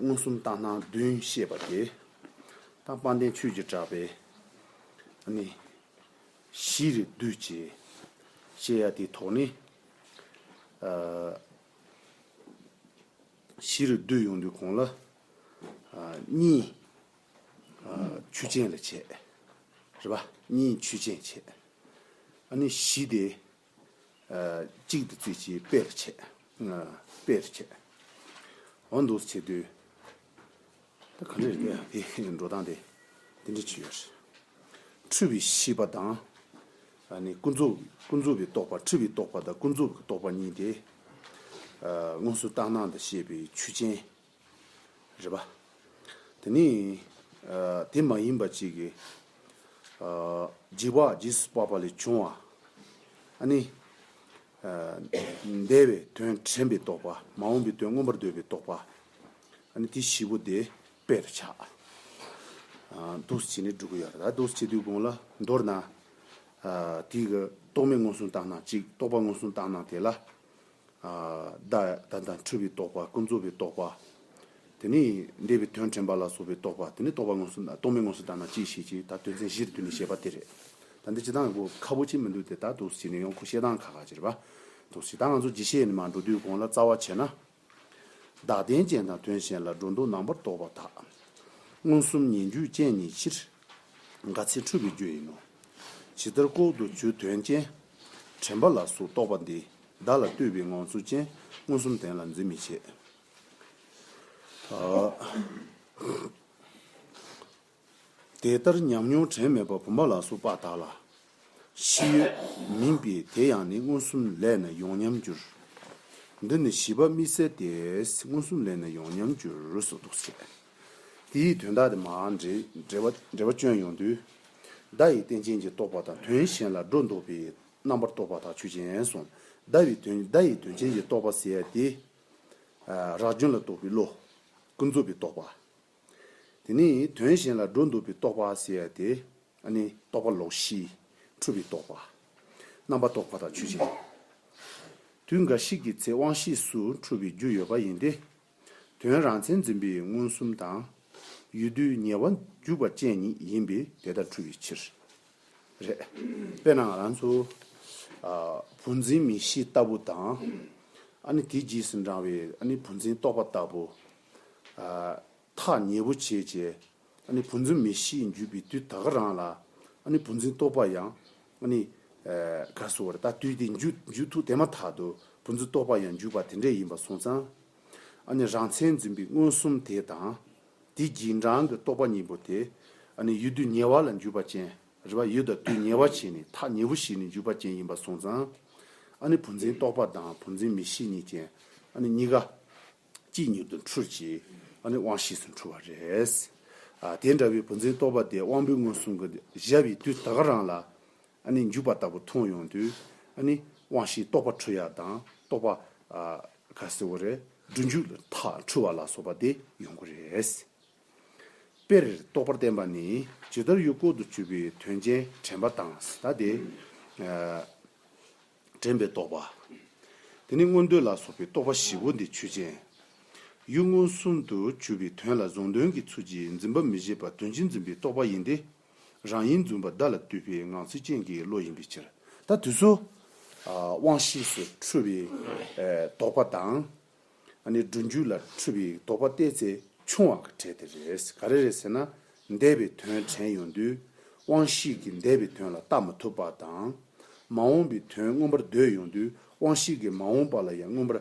མངོན་སུམ་རྟགས་སྣང་བདུན་ཤེས་པ་དེ། རྟགས་སྤངས་ལྡན་ཆོས་ཀྱི་གྲགས་པས་ནི། གཞི་རིག་བསྡུས་བྱས་ཤེས་ཡ་དེ་དོགས་ནས། གཞི་རིག་བསྡུས་ཡོང་དུས་གོང་ལ་གཉིས། ཆུ་ཆེན་ལ་བྱས། རེད་པ། གཉིས་ཆུ་ཆེན་བྱས། ཨ་ནི་གཞི་དེ། གཅིག་དུ་བཙུད་ཅིང་སྤེལ་རེ་བྱས། སྤེལ་རེ་བྱས། འོ་འདུག་བྱེད་དུས། ད་ག་ནས་རེད་འདོད་ཡ་དེ་འགྲོ་སྟངས་དེ་འདི་འདྲ་བྱེད་ཡོད་རེད། འཁྲུལ་བའི་ཤེས་པ་དང། ཨ་ནི་ཀུན་རྫོབ་ཀུན་རྫོབ་པའི་རྟོག་པ་འཁྲུལ་བའི་རྟོག་པ་དང་ཀུན་རྫོབ་ཀྱི་རྟོག་པ་གཉིས་དེ། དངོས་སུ་རྟག་སྣང་དང་ཤེས་པའི་ཆུ་ཅན། རེད་པ། དེ་ནི། དེ་མ་ཡིན་པ་ཅིག་གིས། འཇིགས་པ་ཇི་སྲིད་བར་པ་ལས་བྱུང་བ། ནི། འདས་པའི་དོན་དྲན་པས་རྟོགས་པ། མ་འོངས་པའི་དོན་མངོན་པར་འདོད་པས་རྟོགས་པ། ནི་དེ་བཞི་པོ་དེ་དཔེ་རུ་བྱ། འདུ་བྱེད་ནི་དྲུག་གི་ཡོད་ལ། འདུ་བྱེད་དུས་གོང་ལ་མདོར་ན། དེའི་རྟོག་མེད་མངོན་སུམ་བརྟགས་ན་གཅིག་རྟོག་པ་མངོན་སུམ་བརྟགས་ན་དེ་ལ་བདག་དང་འཁྲུལ་པའི་རྟོག་པ་ཀུན་རྫོབ་པའི་རྟོག་པ། དེ་ནས་འདས་པའི་དོན་དྲན་པ་ལ་སོགས་པའི་རྟོག་པ་དེ་ནི་རྟོག་པ་དངོས་སུ་རྟོག་མེད་དངོས་སུ་བདག་ན་ཅིའི་ཕྱིར་ཅིག་ད་དོན་ཚན་བཞིར་བསྡུས་ནས་བཤད་པ་དེ་རེད། ད་འདི་ཇི་ལྟར་ངོ་ཁ་བོ་ཅི་མི་འདུག་དེ་ལྟར་དུ་བྱས་ནས་ཡང་ཁོ་བཤད་སྟངས་ཁ་ཁ་ཅེར་བ། དུ་ཟེར་ད་ང་ཚོ་ཇི་བཤད་ནས་མ་འགྲོ་དུས་གོང་ལ་རྩ་བ་བྱས་ན་བདག་རྟེན་ཅན་དང་དོན་གཞན་ལ་སྒྲོ་འདོགས་ནང་པར་གཏོགས་པ་དག། མངོན་སུམ་ཉན་རྒྱུའི་སྤྱན་ཉིད་ཕྱིར། དགའ་ཚལ་འཁྲུལ་པའི་རྒྱུ་ཡིན་ནོ། ཇི་ལྟར་ལྐོག་ཏུ་ཆུ་དོན་ཅན། དྲན་པ་ལ་སོགས་རྟོག་པ་འདི། བདག་ལ་ལྟོས་པའི་ངང་ཚུལ་ཅན། མངོན་སུམ་དོན་ལ་འཛིན་མི་བྱེད། དེ་ལྟར་ཉམས་མྱོང་དྲན་མེད་པ་བུམ་པ་ལ་སོགས་པ་དག་ལ། ཕྱི་ཡོད། མིན་པའི་དེ་ཡང་ནི་མངོན་སུམ་ལས་ནི་ཡོངས་ཉམས་འགྱུར། འདི་ནི་བཞི་པ་དམིགས་བསལ་ཏེ། མངོན་སུམ་ལས་ནི་ཡོངས་ཉམས་འགྱུར་སོགས་དུ་བཤད། དེ་ཡི་དོན་དག་དེ་མ་འདྲེས། འབྲེལ་བ་སྐྱོན་ཡོང་དུས། བརྡ་ཡི་རྟེན་ཅན་གྱི་རྟོག་པ་དང་དོན་གཞན་ལ་སྒྲོ་འདོགས་པའི་རྣམ་པར་རྟོག་པ་དག་ཆོས་ཅན་གསུངས། བརྡ་ཡི་དོན་བརྡ་ཡི་དོན་ཅན་གྱི་རྟོག་པ་ཟད་དེ། རགས་རྒྱུན་ལ་རྟོག་པའི་བློ། ཀུན་རྫོབ་པའི་རྟོག་པ། དེ་ནི་དོན་གཞན་ལ་འགྲོ་འདུག་པའི་རྟོག་པ་ཟེར་ཡ་སྟེ། ཨ་ནི་རྟོག་པ་ལོག་ཤེས། འཁྲུལ་པའི་རྟོག་པ། རྣམ་པར་རྟོག་པ་དང་ཆོས་ཅན། དུས་འགའ་ཞིག་གི་ཚེ་དབང་ཤེས་སུ་འཁྲུལ་བའི་རྒྱུ་ཡོད་པ་ཡིན་ཏེ། དོན་རང་མཚན་འཛིན་པའི་མངོན་སུམ་དང། ཡུལ་དུས་ཉེ་བར་འཇུག་པ་ཅན་ཉིད་ཡིན་པས་དེ་ལྟར་འཁྲུལ་བའི་ཕྱིར། རེད། དཔེར་ན་ང་རང་ཚོ། བུ་འཛིན་མི་ཤེས་ལྟ་བུ་དང། ཨ་ནི་དེའི་རྗེས་སུ་འབྲང་བའི་ཨ་ནི་བུ་འཛིན་རྟོག་པ་ལྟ་བུ། ཐག་ཉེ་བོ་བྱེད་ཅེས། བུ་འཛིན་མི་ཤེས་འགྱུས་པའི་དུས་ད་ག་རང་ལ། བུ་འཛིན་རྟོག་པ་ཡང་ག་སོ་བར་ད་དུས་དེ་འགྱུ་ཐུག་དེ་མ་ཐག་ཏུ་བུ་འཛིན་རྟོག་པ་ཡང་འགྱུས་པ་དེ་འདྲས་ཡིན་པར་སོང་ཙང། རང་མཚན་འཛིན་པའི་མངོན་སུམ་དེ་དང་དེ་རྒྱུན་རང་གི་རྟོག་པ་གཉིས་པོ་དེ། ཡུལ་དུས་ཉེ་བ་ལ་འགྱུས་པ་ཅན་རེ་བ་ཡུལ་དང་དུས་ཉེ་བ་བྱས་ནས་ཐག་ཉེ་བོ་ཞིག་ནས་འགྱུས་པ་ཅན་ཡིན་པར་སོང་ཙང། བུ་འཛིན་རྟོག་པ་དང་བུ་འཛིན་མི་ཤེས་གཉིས་ཅན་གཉིས་ཀ། ཅིས་མྱུར་དུ་འཁྲུལ་ཅིག། དབང་བཞིས་སུ་འཁྲུལ་བ་རེད། དེ་འདྲ་བའི་བུ་འཛིན་རྟོག་པ་དེ་དབང་པོའི་མངོན་སུམ་གྱི་གཞལ་བའི་དུས་ད་ག་རང་ལ་འཇུག་པ་ལྟ་བུ་མཐོང་ཡོང་དུས། དབང་བཞིའི་རྟོག་པ་འཁྲུལ་ཡག་དང་རྟོག་པ་ག་སེ་བོ་རེད་འབྲུ་འཇུག་ལ་ཐག་འཁྲུལ་བ་ལ་སོགས་པ་དེ་ཡོང་གི་རེད། དཔེར་རྟོག་པར་བསྟན་པ་ནི་ཇི་ལྟར་ཡུལ་ལྐོག་ཏུ་གྱུར་པའི་དོན་ཅན་དྲན་པ་དང་ཟླ་དེ། དྲན་པའི་རྟོག་པ། དེ་ནི་མངོན་འདོད་ལ་སོགས་པའི་རྟོག་པ་བཞི་པོ་འདི་ཆོས་ཅན། ཡུལ་མངོན་སུམ་དུ་བྱུས་པའི་དོན་ལ་གཟུང་དོན་གྱི་ཚུལ་གྱིས་འཛིན་པ་མི་བཞེད་པར་དོན་སྤྱི་འཛིན་པའི་རྟོག་པ་ཡིན་ཏེ། རང་ཡིན་བརྫུན་པ་བདག་ལ་བཏུས་པའི་ངང་ཚུལ་ཅན་གྱི་བློ་ཡིན་པའི་ཕྱིར། ད་དུས་སུ། དབང་ཤེས་སུ་འཁྲུལ་བའི་རྟོག་པ་དང། ཨ་ནི་སྒྲུབ་མཇུག་ལ་འཁྲུལ་པའི་དོགས་པ་བལྟས་ཚེ་ཆུང་བ་ག་བྲལ་དེ་རེད་ག་རེ་རེད་ཟེར་ན། འདས་པའི་དོན་དྲན་ཡོང་དུས་དབང་ཤེས་ཀྱིས་འདས་པའི་དོན་ལ་བལྟ་མ་ཐུབ་པ་དང། མ་འོངས་པའི་དོན་མངོན་པར་འདོད་ཡོང་དུས་དབང་ཤེས་ཀྱིས་མ་འོངས་པ་ལ་ཡང་མངོན་པར་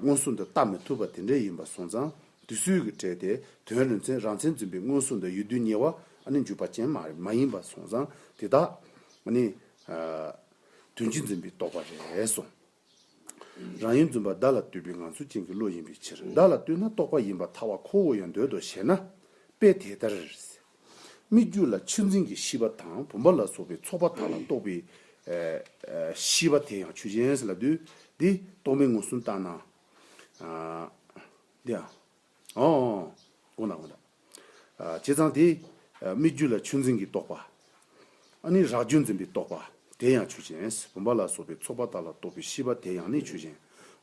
མངོན་སུམ་དུ་བལྟ་མི་ཐུབ་པ་དེ་འདྲ་ཡིན་པ་སོང་ཙང་དུས་ཚོད་ཀྱི་གྲལ་དེ་དོན་རིན་ཆེན་རང་མཚན་འཛིན་པའི་མངོན་སུམ་དུ་ཡོད་དུས་ཉེ་བ་ཨ་ནི་འཇུག་པ་ཅན་མ་ཡིན་པ་སོང་ཙང་དེ་དག་ཨ་ནི། དོན་གྱིས་འཛིན་པའི་དོགས་པ་རེད་སོང། རང་ཡུལ་འཛུམ་པ་བདག་ལ་བསྟོད་པའི་ངང་ཚུལ་ཅན་གྱི་བློ་ཡིན་པའི་ཕྱིར་བདག་ལ་བསྟོད་ན་རྟོགས་པ་ཡིན་པར་ཐལ་བ་ཁོ་བོ་ཡང་འདོད་དོ་ཞེ་ན། དཔེ་དེ་ལྟར། སྨིག་རྒྱུ་ལ་ཆུ་འཛིན་གྱི་ཤིས་པ་དང་བུམ་པ་ལ་སོགས་པའི་ཚོགས་པ་དག་ལ་རྟོགས་པའི། ཤིས་པ་དེ་ཡང་ཆུ་ཅན། ལ་འདུས་ཏེ་རྟོག་མེད་ངོས་བཟུང་བརྟགས་ན། དགོངས་དག། བྱས་ཙང་དེ། སྨིག་རྒྱུ་ལ་ཆུ་འཛིན་གྱི་རྟོག་པ། ནི་རགས་རྒྱུ་འཛིན་པའི་རྟོག་པ། དེ་ཡང་ཆུ་ཅན། བུམ་པ་ལ་སོགས་པའི་ཚོགས་པ་དག་ལ་རྟོག་པའི་ཤེས་པ་དེ་ཡང་ནི་ཆུ་ཅན།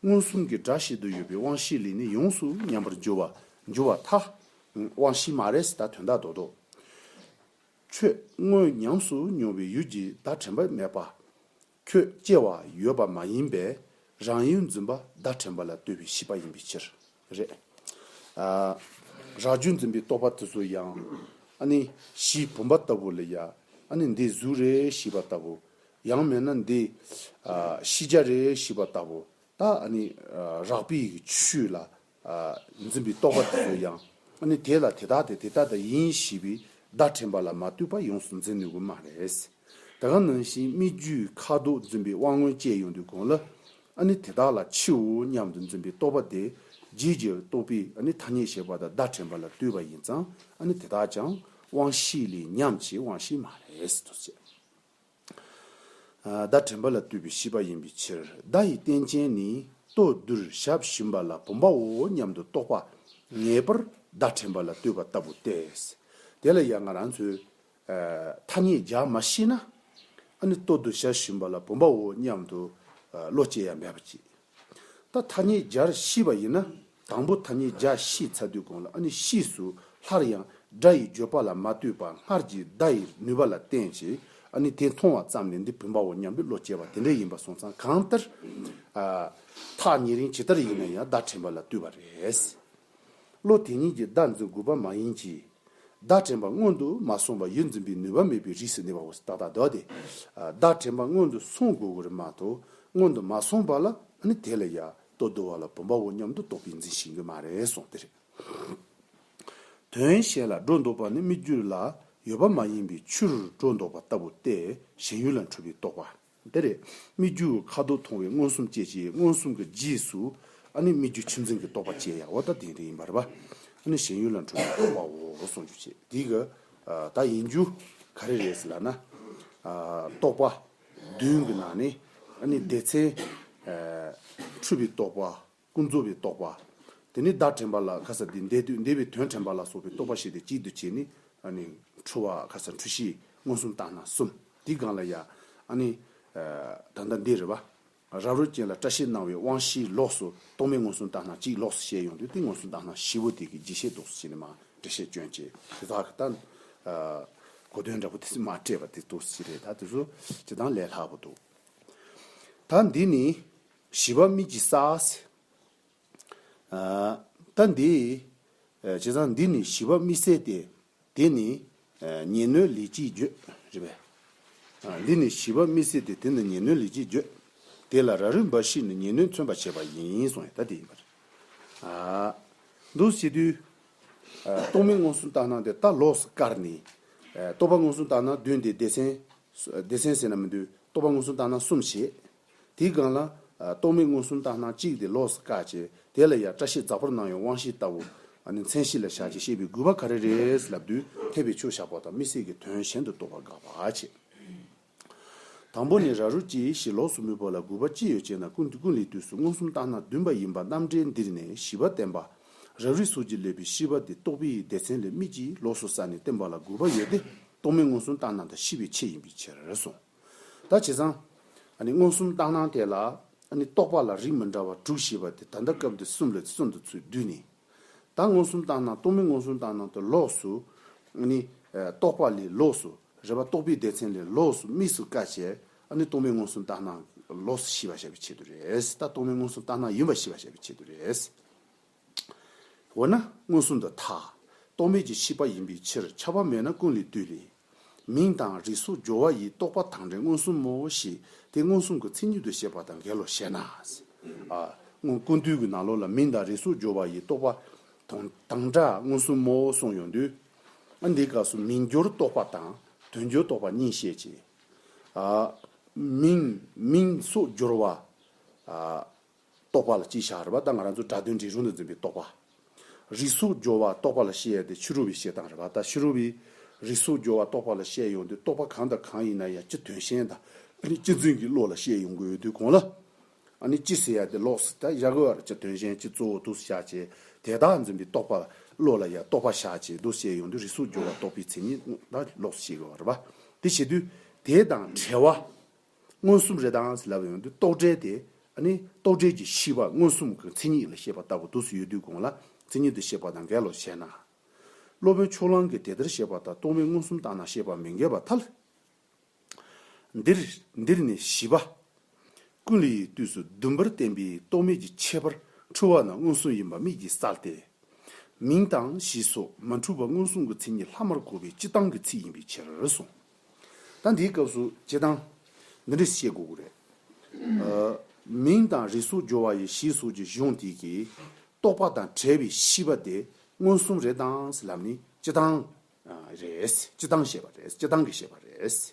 མངོན་སུམ་གྱི་སྒྲ་བཤད་དུ་ཡོད་པའི་དབང་བཞི་ལས་ནི་ཡོངས་སུ་ཉམས་པར་འགྱུར་བ། འགྱུར་བ་ཐ། དབང་བཞི་མ་རེད་ད་དོན་དག་རྡོག་རྡོག། ཆོས་དངོས་ཉམས་སུ་མྱོང་བའི་ཡུལ་གྱི་བརྡ་དྲན་པ་མེད་པ། ཁྱོད་སྐྱེ་བ་ཡོད་པ་མ་ཡིན་པས་རང་ཡུལ་འཛིན་པ་བརྡ་དྲན་པ་ལ་ལྟོས་པའི་ཤེས་པ་ཡིན་པའི་ཕྱིར། རེད་ཨ། རགས་རྒྱུད་འཛིན་པའི་རྟོག་པ་དེ་ཚོ་ཡང། ཨ་ནི་གཞིའི་བུམ་པ་ལྟ་བུ་ལ་ཡང་ཨ་ནི་འདི་གཟུགས་རེད་ཤེས་པ་ལྟ་བུ། ཡང་མེད་ན་འདི་ཤེས་བྱ་རེད་ཤེས་པ་ལྟ་བུ། ད་ཨ་ནི་རགས་པའི་ཡིག་ཆུ་ལ་འཛིན་པའི་རྟོག་པ་དེ་ཚོ་ཡང་ནི་དེ་ལ་དེ་དག་སྟེ་དེ་ལྟ་སྟེ་ཡིན་ཞེས་པའི་བརྡ་དྲན་པ་ལ་མ་ལྟོས་པར་ཡོངས་སུ་འཛིན་ནུས་ཀྱི་མ་རེད། ད་ག་ནང་བཞིན་སྨིག་རྒྱུའི་ཁ་དོག་འཛིན་པའི་དབང་མངོན་སྤྱད་ཡོང་དུས་གོང་ལ་ནི་དེ་དག་ལ་ཕྱིའོ་སྙམ་དུ་འཛིན་པའི་རྟོག་པ་དེ་རྗེས་ཀྱི་རྟོག་པའི་ཐ་སྙད་བཤད་པ་དང་བརྡ་དྲན་པ་ལ་ལྟོས་པ་ཡིན་ཙང་དེ་དག་ཀྱང་དབང་ཤེས་ལས་ཉམས་ཀྱི་དབང་ཤེས་མ་རེད། བརྡ་དྲན་པ་ལ་བཏུས་པའི་ཤེས་པ་ཡིན་པའི་ཕྱིར་བརྡ་ཡི་རྟེན་ཅན་ནི་ལྟོ་རྡུལ་ཞབས་བཞིན་པ་ལ་བུམ་པའོ་སྙམ་དུ་རྟོགས་པ་ངེས་པར་བརྡ་དྲན་པ་ལ་བཏུས་པ་ལྟ་བུ་སྟེ། དེ་ལ་ཡང་ང་རང་ཚོས་ཐ་སྙད་རྒྱག་མ་ཤེས་ན། ཨ་ནི་ལྟོ་རྡུལ་ཞབས་བཞིན་པ་ལ་བུམ་པའོ་སྙམ་དུ་བློ་སྐྱེ་ཡ་མེད་པ་ཅིག་ད་ཐ་སྙད་སྦྱར་གཤིས་པ་ཡིན་ན་དང་པོ་ཐ་སྙད་སྦྱར་གཤིས་ཚ་དུས་གོང་ལ་ཨ་ནི་གཤིས་སུ་སླར་ཡང་སྒྲ་ཡི་བརྗོད་པ་ལ་མ་ལྟོས་པར་སྔར་གྱི་བརྡ་ཡི་ནུས་པ་ལ་བརྟེན་ཅིང་ཨ་ནི་དེ་མཐོང་བ་ཙམ་ལས་འདི་བུམ་པའོ་སྙམ་པའི་བློ་སྐྱེ་བ་དེ་འདྲ་ཡིན་པ་སོང་ཙང་གང་ལྟར། ཐག་ཉེ་རིང་ཇི་ལྟར་ཡིན་ན་ཡང་བརྡ་དྲན་པ་ལ་བལྟོས་པ་རེད། བློ་དེ་ཉིད་ཀྱིས་བདག་འཛིན་དགོས་པ་མ་ཡིན་གྱི། བདག་དྲན་པ་སྔོན་དུ་མ་སོང་བར་ཡུལ་འཛིན་པའི་ནུས་པ་མེད་པའི་རིས་སུ་གནས་པའོ་ཏག་ཏག་དོགས་ཏེ། བདག་དྲན་པ་སྔོན་དུ་སོང་དགོས་དགོས་རེད་མ་གཏོགས་སྔོན་དུ་མ་སོང་བ་ལ་ནི་དེ་ལ་ཡར་ལྟོ་འདོ་བ་ལ་བུམ་པའོ་སྙམ་དུ་རྟོག་པས་འཛིན་ཞིང་གི་མ་རེད་གསུངས་དེ་རེད། དོན་གཞན་ལ་སྒྲོ་འདོགས་པ་ནི་སྨིག་རྒྱུ་ལ་ཡོད་པ་མ་ཡིན་པའི་ཆུར་སྒྲོ་འདོགས་པ་ལྟ་བུ་སྟེ་གཞན་ཡུལ་ལ་འཁྲུལ་པའི་རྟོག་པ། འདིར་སྨིག་རྒྱུ་ཁ་དོག་མཐོང་བའི་མངོན་སུམ་བསྐྱེད་ཅིང་མངོན་སུམ་གྱི་རྗེས་སུ་ནི་སྨིག་རྒྱུ་ཁྱིམ་ཚང་གི་རྟོག་པ་བསྐྱེད་ཡང་བ་ད་དེ་ཡིན་པར་བ་ནི་གཞན་ཡུལ་ལ་འཁྲུལ་པའི་རྟོག་པའོ་གསུངས་རྒྱུ་བྱེད་འདི་གི་ད་ཡིན་རྒྱུ་ག་རེ་རེད་ལ་ན། རྟོག་པ་བདུན་གྱི་ནང་ནས་ནི་སྡེ་ཚན། འཁྲུལ་པའི་རྟོག་པ་ཀུན་རྫོབ་པའི་རྟོག་པ། དེ་ནི་བདག་དྲན་པ་ལ་ཁ་ཟ་འདི་འདས་དུས་འདས་པའི་དོན་དྲན་པ་ལ་སོགས་པའི་རྟོག་པ་ཞེས་ཏེ་གཅིག་འདུ་བྱེད་ནི། འཁྲུལ་བ་ཁ་ཟ་འཁྲུལ་གཞི་མངོན་སུམ་བརྟགས་ན་གསུམ་དེའི་སྒང་ལ་ཡང། ད་ལྟ་འདིར། རབ་རོལ་ཅན་ལ་བཀྲ་ཤིས་སྣང་བའི་དབང་བཞིའི་ལོགས་སུ་རྟོག་མེད་མངོན་སུམ་བརྟགས་ན་གཅིག་ལོགས་སུ་བཤད་ཡོང་དུས་ཏིང་མངོན་སུམ་བརྟགས་ན་བཞི་བོ་དེ་གི་རྒྱས་བཤད་རྫོགས་སུ་བྱས་ནས་མ་འབྲེལ་བཤད་སྐྱོན་ཅན་དེ་དག་གི་ལྟར། གོ་དོན་འདྲ་པོ་དེ་མ་སྤྲད་པ་དེ་རྫོགས་སུ་བྱས་རེད་ད་དེ་ཚོ་བྱེད་སྟངས་ལས་ལྷག་པོ་འདུག་ད་འདི་ནི་ཞི་བ་དམིགས་ཀྱིས་བསགས། ད་འདི། བྱས་ཙང་འདི་ནི་ཞི་བ་དམིགས་བསལ་ཏེ། དེ་ནི་ཉེས་སྣོད་ལས་ཅི་བརྗོད། རེད་པས། འདི་ནི་ཞི་བ་དམིགས་བསལ་ཏེ་དེ་ནི་ཉེས་སྣོད་ལས་ཅི་བརྗོད། དེ་ལ་ར་རུས་འབའ་ཞིག་ནི་ཉེས་སྣོད་མཚོན་པར་བྱེད་པ་ཡིན་གསུངས་ཡང་ད་དེ་ཡིན་པར། འདུ་བྱེད་དུས། རྟོག་མེད་མངོན་སུམ་ལྟར་སྣང་སྟེ་ལྟ་ལོགས་སུ་བཀར་ནས། རྟོག་པ་མངོན་སུམ་ལྟར་སྣང་བདུན་ཏེ་སྡེ་ཚན་སྡེ་ཚན་ཟེར་ན་མི་འདུག་རྟོག་པ་མངོན་སུམ་བརྟགས་ན་གསུམ་བྱེད། དེའི་སྒང་ལ། རྟོག་མེད་མངོན་སུམ་བརྟགས་ན་གཅིག་དེ་ལོགས་སུ་བཀག་ཅེས་དེ་ལ་ཡང་བཀྲ་ཤིས་རྫ་ཕོར་ནང་ཡོད་དབང་ཤེས་ལྟ་བུ། མཚན་གཞི་ལ་བཞག་ཅེས་བཤད་པའི་དགོས་པ་ག་རེ་རེད་ལབ་དུས་འཐད་པའི་ཆོས་བཞག་པ་དང་མི་སྲིད་ཀྱི་དོན་གཞན་དུ་རྟོགས་པར་དགག་པ་བྱེད། དང་པོ་ནི་ར་རུ་ཅི་ཞེས་ལོགས་སུ་མི་བོར་ལ་དགོས་པ་ཅི་ཡོད་ཅེ་ན་ཀུན་ལས་དུས་སུ་མངོན་སུམ་བརྟགས་ན་བདུན་པ་ཡིན་པ་རྣམ་འགྲེལ་འདིར་ནས་བཞི་པ་བསྟན་པ། རབ་རིབ་སོགས་ཀྱིས་བསླད་པའི་ཤི་བ་དེ་རྟོག་པའི་ཡིད་བདེ་ཚན་ལས་མིག་གིས་ལོགས་སུ་བསལ་ནས་བསྟན་པ་ལ་དགོས་པ་ཡོད་དེ་རྟོག་མེད་མངོན་སུམ་རྟགས་སྣང་དང་ཤི་བའི་ཆེད་ཡིན་པའི་ཕྱིར་གསུངས། ད་བྱས་ཙང། མངོན་སུམ་རྟགས་སྣང་དེ་ལ། རྟོག་པ་ལ་རིགས་མི་འདྲ་བ་དྲུག་ཞེས་པ་དེ་ད་ལྟ་སྐབས་འདིར་གསུམ་ལས་གསུམ་དུ་ཚུད་བསྡུས་ནས། ད་མངོན་སུམ་རྟགས་སྣང་རྟོག་མེད་མངོན་སུམ་རྟགས་སྣང་དུ་ལོགས་སུ། རྟོག་པ་ལས་ལོགས་སུ་རེ་བ་རྟོག་པའི་བདེ་ཚན་ལས་ལོགས་སུ་དམིགས་སུ་བཀར་བྱས། རྟོག་མེད་མངོན་སུམ་རྟགས་སྣང་ལོགས་སུ་ཤི་བ་བྱ་བའི་ཆེད་དུ་རེད། ད་རྟོག་མེད་མངོན་སུམ་རྟགས་སྣང་ཡིན་པ་ཤི་བ་བྱ་བའི་ཆེད་དུ་རེད། འོ་ན་མངོན་སུམ་དུ་མཐའ་རྟོག་མེད་ཀྱི་ཤེས་པ་ཡིན་པའི་ཕྱིར་ཁྱབ་པ་མེད་ན་ཀུན་ལས་བཏུས་ནས། མིང་དང་རིས་སོགས་སྦྱོར་བ་ཡིས་རྟོགས་པ་དང་འབྲས་མངོན་སུམ་མོ་ཞེས་དེ་མངོན་སུམ་གྱི་མཚན་ཉིད་དུ་བཤད་པ་དང་འགལ་ལོ་ཞེ་ན། སྔོན་ཀུན་བཏུས་ཀྱི་ནང་ལོགས་ལ་མིང་དང་རིས་སོགས་སྦྱོར་བ་ཡིས་རྟོགས་པ་དང་དང་འདྲ་མངོན་སུམ་མོ་གསུངས་ཡོང་དུས། འདིའི་སྐབས་སུ་མིང་སྦྱོར་རྟོགས་པ་དང་དོན་སྦྱོར་རྟོགས་པ་གཉིས་བཤད་ཅིང། མིང་སོགས་སྦྱོར་བ། རྟོག་པ་ལ་སྤྱིའི་ཞག་རེ་བ་དང་ང་རང་ཚོ་སྒྲ་དོན་འདྲེས་རུང་དུ་འཛིན་པའི་རྟོག་པ། རིས་སུ་སྦྱོར་བ་རྟོག་པ་ལ་ཤེས་ཡོད་དེ་ཕྱི་རུ་བའི་ཤེས་དང་རེ་བ་དང་ཕྱི་རུ་བའི་རིས་སུ་སྦྱོར་བ་རྟོག་པ་ལ་ཤེས་ཡོང་དུས་རྟོག་པ་གང་དང་གང་ཡིན་ན་ཡང་སྤྱི་དོན་ཤེས་དང་སྤྱི་མཚོན་གྱི་བློ་ལ་ཤེས་ཡོང་གི་ཡོད་དུས་གོང་ལ་ནི་སྤྱི་ཟེར་ཡ་དེ་ལོགས་སུ་བཞག་གི་བར་སྤྱི་དོན་ཤེས་སྤྱི་གཙོ་བོ་དུས་སུ་བཞག་བྱས་དེ་དག་འཛིན་པའི་རྟོག་པ་བློ་ལ་ཡང་རྟོག་པ་བཞག་བྱས་དུས་ཤེས་ཡོང་དུས་རིས་སུ་སྦྱོར་བ་རྟོག་པའི་མཚན་ཉིད་ལོགས་སུ་ཤེས་གི་བར་རེ་བ་དེ་བྱས་དུས་དེ་དང་བྲལ་བ་མངོན་སུམ་རེ་དྭངས་སེ་ལབ་ཡོང་དུས་རྟོག་བྲལ་དེ། ཨ་ནི། རྟོག་བྲལ་གྱི་ཤེས་པ་མངོན་སུམ་གྱི་མཚན་ཉིད་ལ་ཤེས་པ་ལྟ་བུ་དུ་སུ་ཡོད་དུས་གོང་ལ་མཚན་ཉིད་དུ་ཤེས་པ་དང་འགལ་ལོ་ཞེ་ན། སློབ་དཔོན་ཕྱོགས་གླང་གིས་དེ་ལྟར་བཤད་པ་དང་རྟོག་མེད་མངོན་སུམ་བརྟགས་ན་ཤེས་པ་མི་འགལ་བ་ཐལ། འདིར་འདིར་ནི་བཞི་པ། ཀུན་ལ་ཡི་དུས་སུ་བདུན་པར་བསྟན་པའི་རྟོག་མེད་ཀྱི་ཁྱད་པར་འཁྲུལ་བ་ན་མངོན་སུམ་ཡིན་པ་དམིགས་ཀྱིས་བསལ་ཏེ། མིང་དང་གཞི་སོགས་མ་འཁྲུལ་བ་མངོན་སུམ་གྱི་མཚན་ཉིད་ལྷག་མར་གོ་བའི་སྤྱི་གཏམ་གྱི་ཚིག་ཡིན་པའི་ཕྱིར་སོ། ད་འདིའི་སྐབས་སུ་སྤྱི་དང། འདི་འདྲས་བཤད་དགོས་ཀྱི་རེད། མིང་དང་རིས་སུ་སྦྱོར་བ་ཡི་གཞི་གཟུགས་ཀྱི་གཞུང་དེ་གིས་རྟོགས་པ་དང་བྲལ་བའི་ཤེས་པ་དེ་མངོན་སུམ་རེད་དང་ཟེར་ལམ་ནི་སྤྱི་དང། རེད། སྤྱི་དང་ཞེས་པ་རེད། སྤྱི་དང་གི་ཞེས་པ་རེད།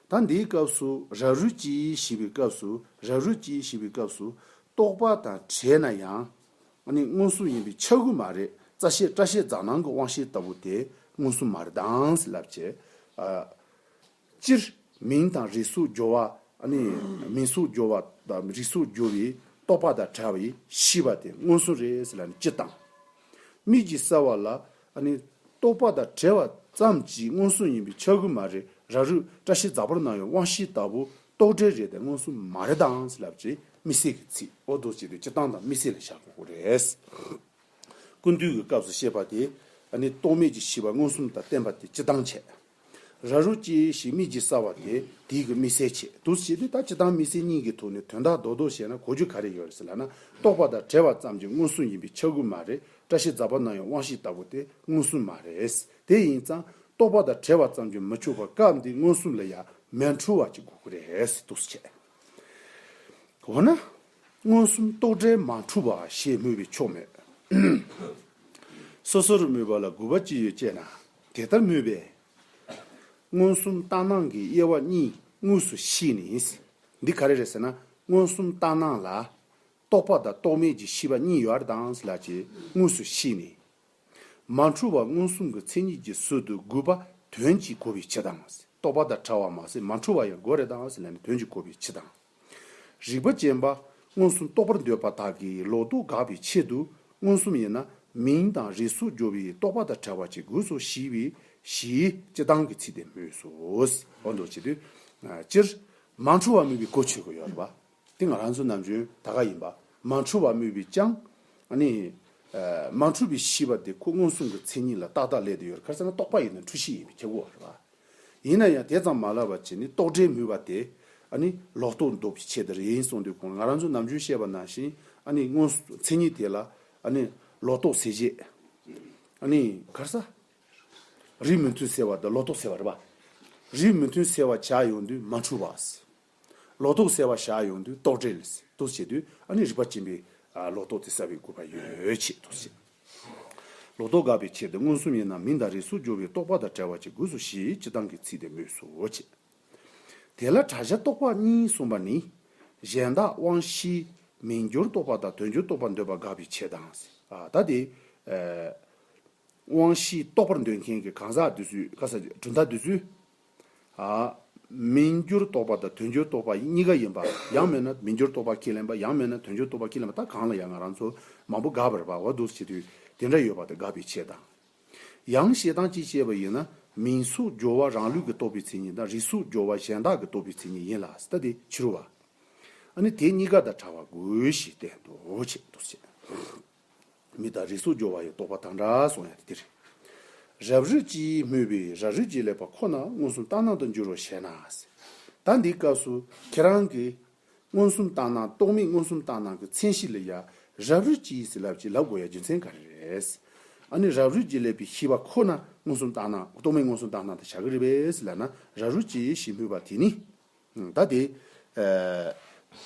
ད་འདིའི་སྐབས་སུ་རབ་རིབ་ཀྱིས་ཞེས་པའི་སྐབས་སུ་རབ་རིབ་ཀྱིས་ཞེས་པའི་སྐབས་སུ་རྟོགས་པ་དང་བྲལ་ན་ཡང། ཨ་ནི་མངོན་སུམ་ཡིན་པའི་ཆ་ཀུན་མ་རེད་རྩ་ཤེས་སྐྲ་ཤེས་རྫ་ནང་གི་དབང་ཤེས་ལྟ་བུ་དེ་མངོན་སུམ་མ་རེད་དྭངས་སེ་ལབ་བྱེད། སྤྱིར་མིང་དང་རིས་སུ་སྦྱོར་བ་ཨ་ནི་མིང་སུ་སྦྱོར་བ་དང་རིས་སུ་སྦྱོར་བའི་རྟོག་པ་དང་བྲལ་བའི་ཤེས་པ་དེ་མངོན་སུམ་རེད་སེ་ལ་ནི་སྤྱི་དང། དམིགས་ཀྱིས་བསལ་བ་ལ་ཨ་ནི། རྟོག་པ་དང་བྲལ་བ་ཙམ་གྱིས་མངོན་སུམ་ཡིན་པའི་ཆ་ཀུན་མ་རེད་ར་རུ་བཀྲ་ཤིས་རྫ་བོར་སྣང་བའི་དབང་ཤེས་ལྟ་བུ་རྟོག་བྲལ་རེད་དེ་མངོན་སུམ་མ་རེད་དང་ཟེར་ལབ་ཀྱི་མི་སེར་གྱི་ཚིག་འོ་དོ་བྱས་ཏེ་སྤྱི་བཏང་དང་མི་སེར་ལ་བཞག་དགོས་སྐོར་རེད། ཀུན་བཏུས་ཀྱི་སྐབས་སུ་བཤད་པ་དེ་ཨ་ནི་རྟོག་མེད་ཀྱི་ཤེས་པ་མངོན་སུམ་དང་བསྟན་པ་དེ་སྤྱི་བཏང་བྱས། ར་རུ་ཅི་ཞིག་སྨྲིས་ཀྱིས་བསལ་བ་དེ་དེའི་གི་སྨྲིས་སེལ་བྱེད་དུ་བྱེད་དེ་ད་ཅི་དང་མི་སེལ་གཉིས་ཀྱི་ཐུག་ནས་དོན་དག་རྡོག་རྡོག་བཤད་ན་གོ་རྒྱུ་ག་རེ་ཡོད་རེད་ཟེར་ལ་ན་རྟོག་པ་དང་བྲལ་བ་ཙམ་གྱི་མངོན་སུམ་ཡིན་པའི་ཆ་ཀུན་མ་རེད་བཀྲ་ཤིས་རྫ་པ་ནང་ཡང་དབང་ཤེས་ལྟ་བུ་དེ་མངོན་སུམ་མ་རེད་དེ་ཡིན་ཙང་རྟོག་པ་དང་བྲལ་བ་ཙམ་གྱི་མི་ཆོས་པ་སྐབས་འདིའི་མངོན་སུམ་ལ་ཡང་མེད་འཁྲུལ་བ་ཅིག་དགོས་ཀྱི་རེད་ཟེར་དུ་བྱེད། འོ་ན། མངོན་སུམ་རྟོག་བྲལ་མ་འཁྲུལ་བ་ཞེས་སྨོས་པས་ཆོག་མོད། སོ་སོར་སྨོས་པ་ལ་དགོས་པ་ཅི་ཡོད་ཅེ་ན། དེ་ལྟར་མོས་པས། མངོན་སུམ་ལྟ་སྣང་གི་དབྱེ་བ་གཉིས་དངོས་སུ་ཤེས་ནས། འདི་ག་རེ་རེད་ཟེར་ན་མངོན་སུམ་ལྟ་སྣང་ལ། རྟོག་པ་དང་རྟོག་མེད་ཀྱི་ཤེས་པ་གཉིས་ཡོད་ཨར་དང་ལ་ཅེས་དངོས་སུ་ཤེས་ནས། མ་འཁྲུལ་བ་མངོན་སུམ་གྱི་མཚན་ཉིད་ཀྱི་ཟུར་དུ་དགུ་པ་དོན་གྱིས་གོ་བའི་ཕྱིར་དང། རྟོག་པ་དང་བྲལ་བ་མ་ཟད་མ་འཁྲུལ་བ་ཡང་དགོས་རེད་དང་ལ་ནི་དོན་གྱིས་གོ་བའི་ཕྱིར་དང། རིག་པ་ཅན་པ། མངོན་སུམ་རྟོགས་པར་འདོད་པ་དག་གིས་ལོག་རྟོག་དགག་པའི་ཆེད་དུ་མངོན་སུམ་ཡིན་ན་མིང་དང་རིས་སུ་གྱུར་པའི་རྟོག་པ་དང་བྲལ་བ་ཅིག་དགོས་སོ་བཞི་བའི་བཞིའི་སྤྱི་དང་གི་ཚིག་དེ་སྨོས་སོ། འོ་འདོད་བྱེད་དུས། སྤྱིར། མ་འཁྲུལ་བ་སྨོས་པའི་གོ་ཆོད་དགོས་ཡོད་པ། དེ་ང་རང་ཚོའི་ནམ་རྒྱུན་ད་ག་ཡིན་པ། མ་འཁྲུལ་བ་སྨོས་པའི་ཅང། ནི། མ་འཁྲུལ་བའི་བཞི་བ་དེ་ཁོ་མངོན་སུམ་གྱི་མཚན་ཉིད་ལ་ཏག་ཏག་སླད་དུ་ཡོད་རེད་ཁར་སེ་ན་རྟོག་པ་ཡིན་ན་འཁྲུལ་བཞི་ཡིན་པའི་ཁྱབ་གོ། ཡིན་ན་ཡང་དེ་ཙམ་མ་ལབ་པ་བྱས་ནས་ལྟོགས་འདྲེ་མུལ་བ་དེ། ཨ་ནི། ལོག་རྟོག་འདོགས་པའི་ཆེད་དུ་རེད་ཡིན་གསུངས་དུས་ཁོང་ང་རང་ཚོ་ནམ་རྒྱུན་བཤད་པ་ནང་བཞིན་ཨ་ནི་སྔོན་མཚན་ཉིད་དེ་ལ་ཨ་ནི། ལོག་རྟོག་ཟེར་རྗེས། ཨ་ནི། གར་ས། རིགས་མི་མཐུན་ཟེར་བ་དང་ལོག་རྟོག་ཟེར་བ་རེད་པ། རིགས་མི་མཐུན་ཟེར་བ་བྱ་ཡོང་དུས་མ་འཁྲུལ་བ། ལོག་རྟོག་བསལ་བ་བཞག་ཡོང་དུས་རྟོག་བྲལ་དུ་བྱེད་དུས་ཨ་ནི་རིག་པ་སྐྱེ་འཕེལ་ལོག་རྟོག་དེ་བསལ་བའི་དགོས་པ་ཡོད་ཅེས་དུ་བྱེད། ལོག་རྟོག་དགག་པའི་ཕྱིར་དེ་མངོན་སུམ་ཡིན་ནམ་མིན་དང་རིས་སུ་སྦྱོར་བའི་རྟོག་པ་དང་བྲལ་བ་བྱེད་དགོས་སོ་ཞེས་སྤྱི་དང་གི་ཚིག་དེ་སྨོས་སོ་ཞེས། དེ་ལ་གྲྭ་བཞི་རྟོག་པ་གཉིས་གསུངས་པ་ནི། གཞན་དག་དབང་བཞིའི་མིང་སྦྱོར་རྟོག་པ་དང་དོན་སྦྱོར་རྟོག་པར་འདོད་པ་དགག་པའི་ཕྱིར་དང། ད་དེ། དབང་བཞིའི་རྟོག་པར་འདོད་མཁན་གྱི་གང་ཟག་འདོད་ཚུལ་གང་ཟག་གྲུབ་མཐའ་འདོད་ཚུལ། མི་འགྱུར་རྟོག་པ་དང་དོན་འགྱུར་རྟོག་པ་གཉིས་ཀ་ཡིན་པ་ཡང་མེད་ན་མི་འགྱུར་རྟོག་པ་ཁས་ལེན་པ་ཡང་མེད་ན་དོན་འགྱུར་རྟོག་པ་ཁས་ལེན་པ་ད་གང་ལ་ཡང་ང་རང་ཚོ་མང་པོ་དགའ་བར་བ་བ་དུ་བྱེད་དུས་དེ་འདྲ་ཡོད་པ་དེ་དགའ་བའི་ཆེད་དང། ཡང་བྱེད་སྟངས་གཅིག་སྤྱད་པ་ཡིན་ན་མིང་གཟུགས་སྦྱོར་བ་རང་ལུས་ཀྱི་རྟོག་པའི་མཚན་ཉིད་དང་རིས་གཟུགས་སྦྱོར་བ་གཞན་དག་གི་རྟོག་པའི་མཚན་ཉིད་ཡིན་ལ་ད་དེ་ཕྱི་རུ་བ། ཨ་ནི་དེ་གཉིས་ཀ་དང་བྲལ་བ་དགོས་ཞེས་བསྟན་དུ་བཅས། མི་དང་རིས་སུ་སྦྱོར་བ་ཡི་རྟོག་པ་དང་འདྲ་སོང་ཡང་དེ་རེད། རབ་རིབ་ཀྱིས་སྨོས་པའི་ར་རིས་ཀྱི་ལེགས་པ་ཁོ་ན་མངོན་སུམ་ལྟར་སྣང་དུ་འགྱུར་རོ་ཞེ་ན། ད་འདིའི་སྐབས་སུ་ཁྱེད་རང་གིས། མངོན་སུམ་ལྟར་སྣང་རྟོག་མེད་མངོན་སུམ་ལྟར་སྣང་གི་མཚན་གཞི་ལ་ཡང་རབ་རིབ་ཀྱིས་ཟིན་ལབ་ཅིག་ལབ་དགོས་ཡ་རྒྱུ་མཚན་ག་རེ་རེད། ཨ་ནི་རབ་རིབ་ཀྱིས་ལེགས་པའི་ཤེས་པ་ཁོ་ན་མངོན་སུམ་ལྟར་སྣང་རྟོག་མེད་མངོན་སུམ་ལྟར་སྣང་དུ་བྱ་གི་རེད་པས་ལ་ན་ར་རིབ་ཀྱིས་ཞེས་སྨོས་པ་དེ་ནི། བདའ་སྟེ།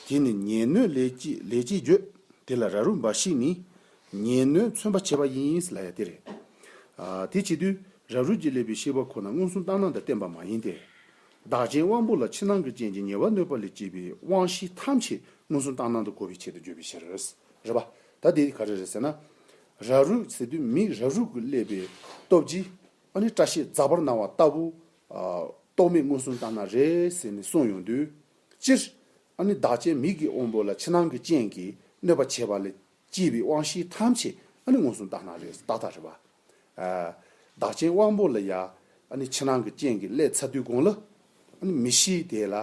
དེ་ནི་ཉེས་གནོད་ལས་ཅེས་བརྗོད། དེ་ལ་ར་རུ་འབའ་ཞིག་ནི། ཉེས་གནོད་མཚོན་པར་བྱེད་པ་ཡིན། ལ་ཡ་སྟེ་རེད། དེ་བྱེད་དུས་ར་རུ་གྱི་ལས་པའི་ཤེས་པ་ཁོ་ན་མངོན་སུམ་བརྟགས་སྣང་དང་བསྟན་པ་མ་ཡིན་ཏེ། བདག་ཅན་དབང་པོ་ལ་ཕྱི་ནང་གི་རྐྱེན་གྱིས་ཉེས་པ་གནོད་པ་ལས་སྐྱེས་པའི་དབང་ཤེས་ཐམས་ཅད་མངོན་སུམ་བརྟགས་སྣང་དུ་གོ་བའི་ཆེད་དུ་བརྗོད་པའི་ཕྱིར། རེད་པ། ད་དེ་ག་རེ་རེད་ཟེར་ན། ར་རུ་ཟེར་དུས་མིས་ར་རུ་གི་ཀླད་པའི་སྟོབས་ཀྱིས་ཨ་ནི་སྐྲ་ཤད་འཛག་པར་སྣང་བ་ལྟ་བུ་རྟོག་མེད་མངོན་སུམ་ལྟ་ན་རེ་ཟེར་ནས་གསུངས་ཡོང་དུས། སྤྱིར་ན་བདག་ཅན་མིག་གི་དབང་པོ་ལ་ཕྱི་ནང་གི་རྐྱེན་གྱིས་གནོད་པ་བྱས་པ་ལས་སྐྱེས་པའི་དབང་བཞི་ཐམས་ཅད་མངོན་སུམ་ལྟ་ན་རེ་ཟེར་ཏག་ཏག་རེད། བདག་ཅན་དབང་པོ་ལ་ཡང་ཕྱི་ནང་གི་རྐྱེན་གྱིས་བསླད་ཚར་དུས་དགོངས་ལ། མི་ཤེས་དེ་ལ་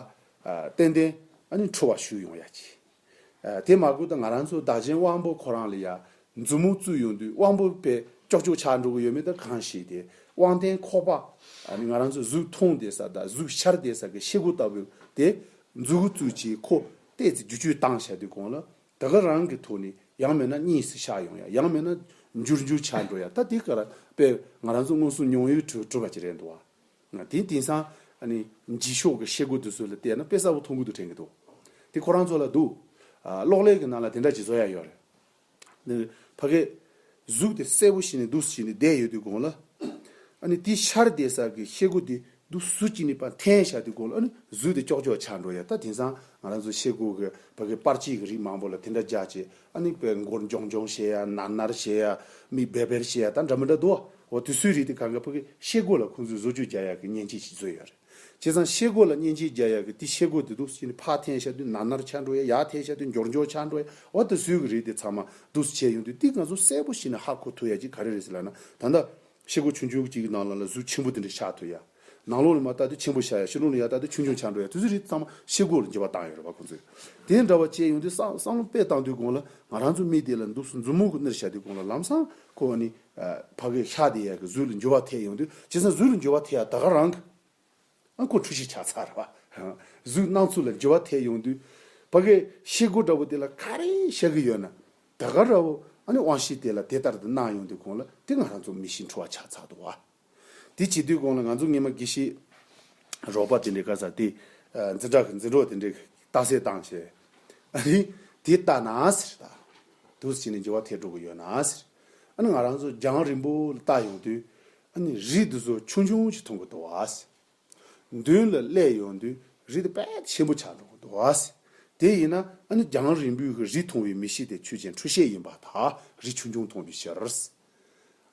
ཏན་ཏན་འཁྲུལ་བ་ཞུགས་ཡོང་ཡ་གྱིས། དེ་མ་གོ་ད་ང་རང་ཚོ་བདག་ཆེན་དབང་པོ་ཁོ་རང་ལ་ཡ་མཛུབ་མོ་བཙུགས་ཡོང་དུས་དབང་པོ་པས་ཀྱོག་ཀྱོག་ཆགས་འགྲོ་གི་ཡོད་མེད་ད་གང་ཤེས་དེ་དབང་ལྡན་ཁོག་པ་ནི་ང་རང་ཚོ་གཟུགས་མཐོང་བདེ་ས་དང་གཟུགས་ཤར་བདེ་ས་ཀྱི་ཤེལ་སྒོ་ལྟ་བུ་དེ་མཛུབ་མོ་བཙུགས་རྗེས་ཁོ་བལྟས་ཚེ་རྒྱུ་གཅོད་བཏང་བཞག་དུས་གོང་ལ་ད་ག་རང་གི་ཐོག་ནས་ཡང་མེད་ན་གཉིས་སུ་ཤར་ཡོང་ཡ་ཡང་མེད་ན་འཇུར་འཇུར་ཆགས་འགྲོ་ཡ་ད་དེ་ག་རང་པས་ང་རང་ཚོ་མངོན་སུམ་མྱོང་ཡུལ་གྲུབ་པ་ཅིག་རེད་འདུག་བ། དེ་དེང་སང་འཇིགས་ཤོག་གི་ཤེལ་སྒོ་དེ་ཚོ་ལ་བལྟས་ན་དཔེ་གསར་བོ་མཐོང་གི་འདུག་དྲན་གི་འདུག་དེ་ཁོ་རང་ཚོ་ལ་འདུག་གློག་ཀླད་ཀྱི་ནང་ལ་དེ་འདྲ་ཇི་ཚོགས་ཡང་ཡོད་རེད། ཕ་གི་གཟུགས་དེ་གསལ་བོ་ཞིག་ནས་འདུག་ཞིག་ནས་བསྡད་ཡོད་དུས་དགོང་ལ། དེའི་ཤར་བལྟས་སར་གྱི་ཤེལ་སྒོ་དེ་འདུག་གཟུགས་ཅིག་ནས་པར་འཐེན་བཞག་དུས་དགོང་ལ་གཟུགས་དེ་ཀྱོག་ཀྱོག་ཆགས་འགྲོ་ཡ་ད་དེང་སང་ང་རང་ཚོ་ཤེལ་སྒོ་གི་ཕ་གི་པར་ཅིག་གི་རིགས་མང་བོ་ལ་དེ་འདྲ་རྒྱག་ཅེས་ཨ་ནི་བའི་མགོར་མགྱོང་མགྱོང་ཞེས་ཡ་ནར་ནར་ཞེས་ཡ་མི་བེར་བེར་ཞེས་ཡ་ད་འདྲ་མི་འདྲ་འདུག་ཨོ་དུས་ཚོད་རིག་དེ་གང་གཱ་ཕུག་གི་ཤེལ་སྒོ་ལ་ཁོང་ཚོས་བཟོ་བཅོས་རྒྱག་ཡ་གི་མཉེན་ཆས་ཤིག་བཟོས་ཡོད་རེད་བྱས་ཙང་ཤེལ་སྒོ་ལ་མཉེན་ཆས་རྒྱག་ཡ་གི་དེ་ཤེལ་སྒོ་དེ་དུས་ཚོད་ནི་ཕག་འཐེན་ཤ་དུས་ནར་ནར་ཆགས་འགྲོ་ཡ་ཡ་འཐེན་ཤ་དུས་མགྱོགས་མགྱོགས་ཆགས་འགྲོ་ཡ་ཨོ་ད་བཟོས་གི་རེད་དེ་ཚང་མ་དུས་ཚོད་བྱས་ཡོང་དུས་དེ་ང་ཚོ་གསལ་པོ་ཤེས་ནས་ཧ་གོ་ཐུབ་ཡ་གཅིག་ག་རེ་རེད་ཟེར་ལ་ན་ད་ལྟ་ཕྱི་སྒོ་ཆུང་ཆུང་གཅིག་གི་ནང་ལ་ལ་གཟུགས་ཆེན་པོ་དེ་འདྲ་བཞག་ཐུབ་ཡ། ནང་ལོགས་ལ་མ་བལྟ་དུས་ཆེན་པོ་བཞག་ཡ་ཕྱི་ལོགས་ལ་ཡ་བལྟ་དུས་ཆུང་ཆུང་བྱ་འགྲོ་ཡ་དུས་ཚོད་རིགས་ཚང་མ་ཕྱི་སྒོ་ལ་འགྱེལ་བ་བཏང་ཡོད་རེད་བ་ཁོང་ཚོས། དེ་འདྲ་བ་བྱས་ཡོང་དུས་བསམ་བློ་དཔེ་བཏང་དུས་དགོང་ལ་ང་རང་ཚོ་མི་དེ་ལ་འདུག་སུ་འཛུབ་མོ་ཁོ་ནར་བཞག་དུས་དགོང་ལ་ལམ་སང་ཁོ་ནི་ཕ་གིའི་ཤ་དེ་ཡ་གི་གཟུགས་ལ་འགྱུར་བ་ཐེབས་ཡོང་དུས་བྱས་ཙང་གཟུགས་ལ་འགྱུར་བ་ཐེབས་ཡ་ད་ག་རང་གི་ཨ་ཁུ་འཁྲུལ་ཞིག་ཆགས་ཚར། གཟུགས་སྣང་ཚུལ་ལ་འགྱུར་བ་ཐེབས་ཡོང་དུས། ཕ་གི་ཤེལ་སྒོ་འདྲ་བོ་དེ་ལ་ག་རེ་བཤད་གི་ཡོད་ན། ད་ག་རེ་བོ་ཨ་ནི་དབང་ཤེས་དེ་ལ་དེ་ལྟར་དུ་སྣང་ཡོང་དུས་གོང་ལ་དེ་ང་རང་ཚོ་མི་ཞིག་འཁྲུལ་བ་ཆགས་ཚར་འདུག་བ། དེ་བྱེད་དུས་གོང་ལ་ང་ཚོ་ངེད་མ་གི་ཤེས་རོགས་པ་དེ་འདྲས་ག་ས་དེ་འཛིན་གྲྭ་གི་འཛིན་གྲོགས་དེ་འདྲས་རྟགས་གསལ་བཏང་ཞེས། ཨ་ནི་དེ་ལྟ་ན་ཟེར། ད་དུས་ཕྱིས་ནས་འགྱུར་བ་ཐེབས་འགྲོ་གི་ཡོད་ན་ཟེར། ཨ་ནི་ང་རང་ཚོ་རྒྱང་རིང་པོ་ལ་བལྟ་ཡོང་དུས། ཨ་ནི་རི་དེ་ཚོ་ཆུང་ཆུང་ཞིག་མཐོང་གི་འདུག་བ་ཟེར། མདུན་ལ་སླེབས་ཡོང་དུས་རི་དེ་དཔལ་ཆེན་པོ་ཆགས་འགྲོ་གི་འདུག་བ་ཟེར། དེ་ཡིན་ན་ཨ་ནི་རྒྱང་རིང་པོའི་ཁར་རི་མཐོང་བའི་མི་ཞིག་དེ་ཆོས་ཅན་འཕྲུལ་ཤེས་ཡིན་པ་དག་རི་ཆུང་ཆུང་མཐོང་དུས་ཤེས།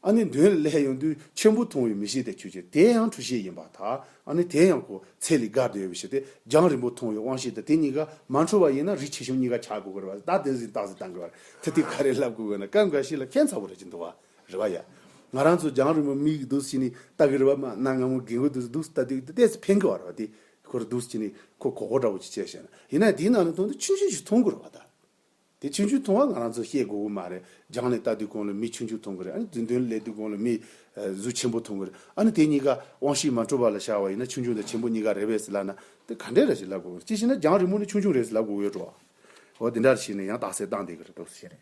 ཨ་ནི་མདུན་ལ་སླེབས་ཡོང་དུས་ཆེན་པོ་མཐོང་བའི་མི་ཞིག་དེ་ཆོས་ཅན་དེ་ཡང་འཕྲུལ་ཤེས་ཡིན་པ་དག་ཨ་ནི་དེ་ཡང་ཁོ་ཚེ་ལས་དགར་འདོད་ཡོད་པའི་ཕྱིར་ཏེ་རྒྱང་རིང་པོ་མཐོང་བའི་དབང་ཤེས་དེ་དེ་གཉིས་ཀ་མ་འཕྲུལ་བ་ཡིན་ན་རི་ཆེ་ཆུང་གཉིས་ཀ་ཆགས་དགོས་གི་རེད་བ་ཟེར་ད་དེ་བཞིན་བཏགས་ཟིན་བཏང་གི་བ་རེད་ད་དེ་ག་རེ་ལབ་དགོས་གི་ན་སྐབས་འགའ་ཞིག་ལ་ཕན་ཚ་བོ་རེད་ཅེས་འདུག་བ། རེ་བ་ཡ། ང་རང་ཚོ་རྒྱང་རིང་པོ་མིག་གིས་འདུག་ཕྱིན་ནས་ལྟ་གི་རེ་བ་མ་གནང་ང་མོ་རྒན་གོས་འདི་རུ་འདུག་ལྟ་དུས་ལྟས་ཚེ་ཕན་གི་བ་རེ་བ་དེ་ཁོ་རུ་འདུག་ཕྱིན་ནས་ཁོ་གོ་གོ་འདྲ་བོ་ཅིག་བྱས་བྱས་ན་ཡིན་ན་དེའི་ནང་ནས་མཐོང་དུས་ཆུང་ཆུང་ཞིག་མཐོང་གི་རེ་བ་ད། དེ་ཆུང་ཆུང་མཐོང་བ་ང་རང་ཚོ་ཤེས་དགོས་གི་མ་རེད་རྒྱང་ནས་ལྟ་དུས་གོང་ལ་མི་ཆུང་ཆུང་མཐོང་གི་རེད་ཨ་ནི་མདུན་དོན་ལ་སླེབས་དུས་གོང་ལ་མི། གཟུགས་ཆེན་པོ་མཐོང་གི་རེད་ཨ་ནི་དེ་གཉིས་ཀ་དབང་ཤེད་མ་འཕྲོད་པ་ལ་ཤར་བ་ཡིན་ན་ཆུང་ཆུང་དང་ཆེན་པོ་གཉིས་ཀ་རེ་བས་སུ་ལབ་ན་དེ་ག་འདྲའི་རེ་ཞིག་ལབ་དགོས་གི་རེད་ཅི་ཞེ་ན་རྒྱང་རིང་པོ་ནས་ཆུང་ཆུང་རེ་ཞིག་ལབ་དགོས་གི་ཡོད་འགྲོ་བ། འོ་དེ་འདྲར་བྱས་ནས་ཡང་དག་སེལ་བཏང་བསྡད་གི་རེད་འདུག་ཤེས་རེད།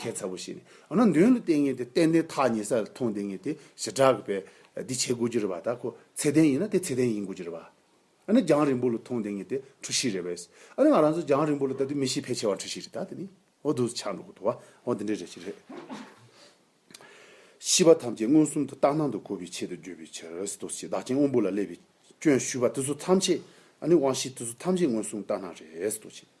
གལ་ཚ་བོ་ཞིག་ནི་འོ་ན་འདོན་ལ་བརྟེན་ངེས་ཏེ་ཏན་ཏན་ཐག་ཉེ་ས་ལ་མཐོང་བསྡད་ངེས་ཏེ་ཞེ་དྲག་གི་བས་འདི་བྱེད་དགོས་ཀྱི་རེད་བ་ད་ཁོ་ཚད་ལྡན་ཡིན་ན་དེ་ཚད་ལྡན་ཡིན་དགོས་ཀྱི་རེད་བ། འོ་ན་རྒྱང་རིང་པོ་ལ་མཐོང་བསྡད་ངེས་ཏེ་འཁྲུལ་གཞི་རེད་བས་འོ་ན་ང་རང་ཚོ་རྒྱང་རིང་པོ་ལ་ལྟ་དུས་མི་གཤིས་ཕལ་ཆེ་བ་འཁྲུལ་གཞི་རེད་ད་དེ་ནི་འོ་དུ་ཆ་འགྲོ་གི་འདུག་བ་འོ་འདི་འདྲའི་རེད་ཅི་རེད། ཤེས་པ་ཐམས་ཅད་མངོན་སུམ་དུ་རྟག་སྣང་དུ་གོ་བའི་ཆེད་དུ་བརྗོད་པའི་ཕྱིར་རོ་ཟེར་དུ་ཆེ་བདག་རྐྱེན་དབང་པོ་ལ་སླེབས་པའི་སྐྱོན་ཞུས་པ་དེ་ཚོ་ཐམས་ཅད་འོ་ནི་དབང་ཤེས་དེ་ཚོ་ཐམས་ཅད་མངོན་སུམ་རྟག་སྣང་རེད་ཟེར་དུ་ཆེ།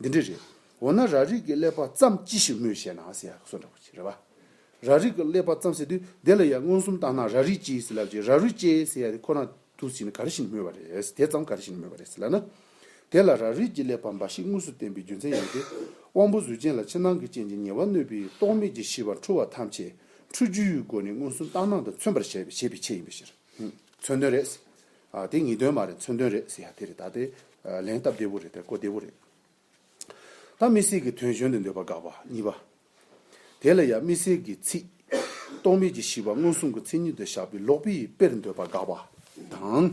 འདི་འདྲ་རེད། འོ་ན་ར་རིགས་ཀྱི་ཀླད་པ་བརྩམས་ཅི་ཞིག་སྨོས་ཤེ་ན་ཟེར་ཡག་སོ་འདྲ་པོ་བྱེད་རེད་བ། ར་རིགས་ཀྱི་ཀླད་པ་བརྩམས་ཟེར་དུས་དེ་ལ་ཡང་མངོན་སུམ་བརྟག་ན་ར་རིགས་ཅེས་ཟེར་ལབ་ཀྱི་ར་རུས་ཅེས་ཟེར་ཡག་དེ་ཁོ་ན་དུ་ཟིན་ག་རེ་བཞིན་སྨོས་བ་རེད་དེ་ཙམ་ག་རེ་བཞིན་སྨོས་བ་རེད་ཟེར་ལ་ན། དེ་ལ་ར་རིགས་ཀྱི་ཀླད་པ་འབའ་ཞིག་དངོས་སུ་བསྟན་པའི་རྒྱུ་མཚན་ཡང་སྟེ། དབང་པོ་གཟུགས་ཅན་ལ་ཕྱི་ནང་གི་རྐྱེན་གྱིས་ཉེ་བར་གནོད་པའི་རྟོག་མེད་ཀྱི་ཤེས་པ་འཁྲུལ་བ་ཐམས་ཅད་འཁྲུལ་རྒྱུའི་སྒོ་ནས་མངོན་སུམ་བརྟག་སྣང་དང་མཚོན་པར་བྱེད་པའི་ཆེད་ཡིན་པའི་ཕྱིར། མཚོན་དོན་རེད། ཨ་དེ་ངེས་དོན་མ་རེད་མཚོན་དོན་རེད་ཟེར་ཡ་དེ་རེད་ད་དེ་ལན་སྟབས་བདེ་བོ་རེད་དེ་གོ་བདེ་བོ་རེད། ད་མི་སེར་གྱི་དོན་གཞོན་དུ་འདོད་པ་དགག་པ་གཉིས་པ། དེ་ལ་ཡང་མི་སེར་གྱི་ཚིག། རྟོག་མེད་ཀྱི་ཤི་བ་མངོན་སུམ་གྱི་མཚན་ཉིད་དུ་བཞག་པའི་ལོག་པའི་དཔེར་འདོད་པ་དགག་པ་དང།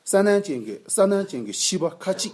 ས་ནན་ཅན་གྱི་ས་ནན་ཅན་གྱི་ཤི་བ་ཁ་ཅིག་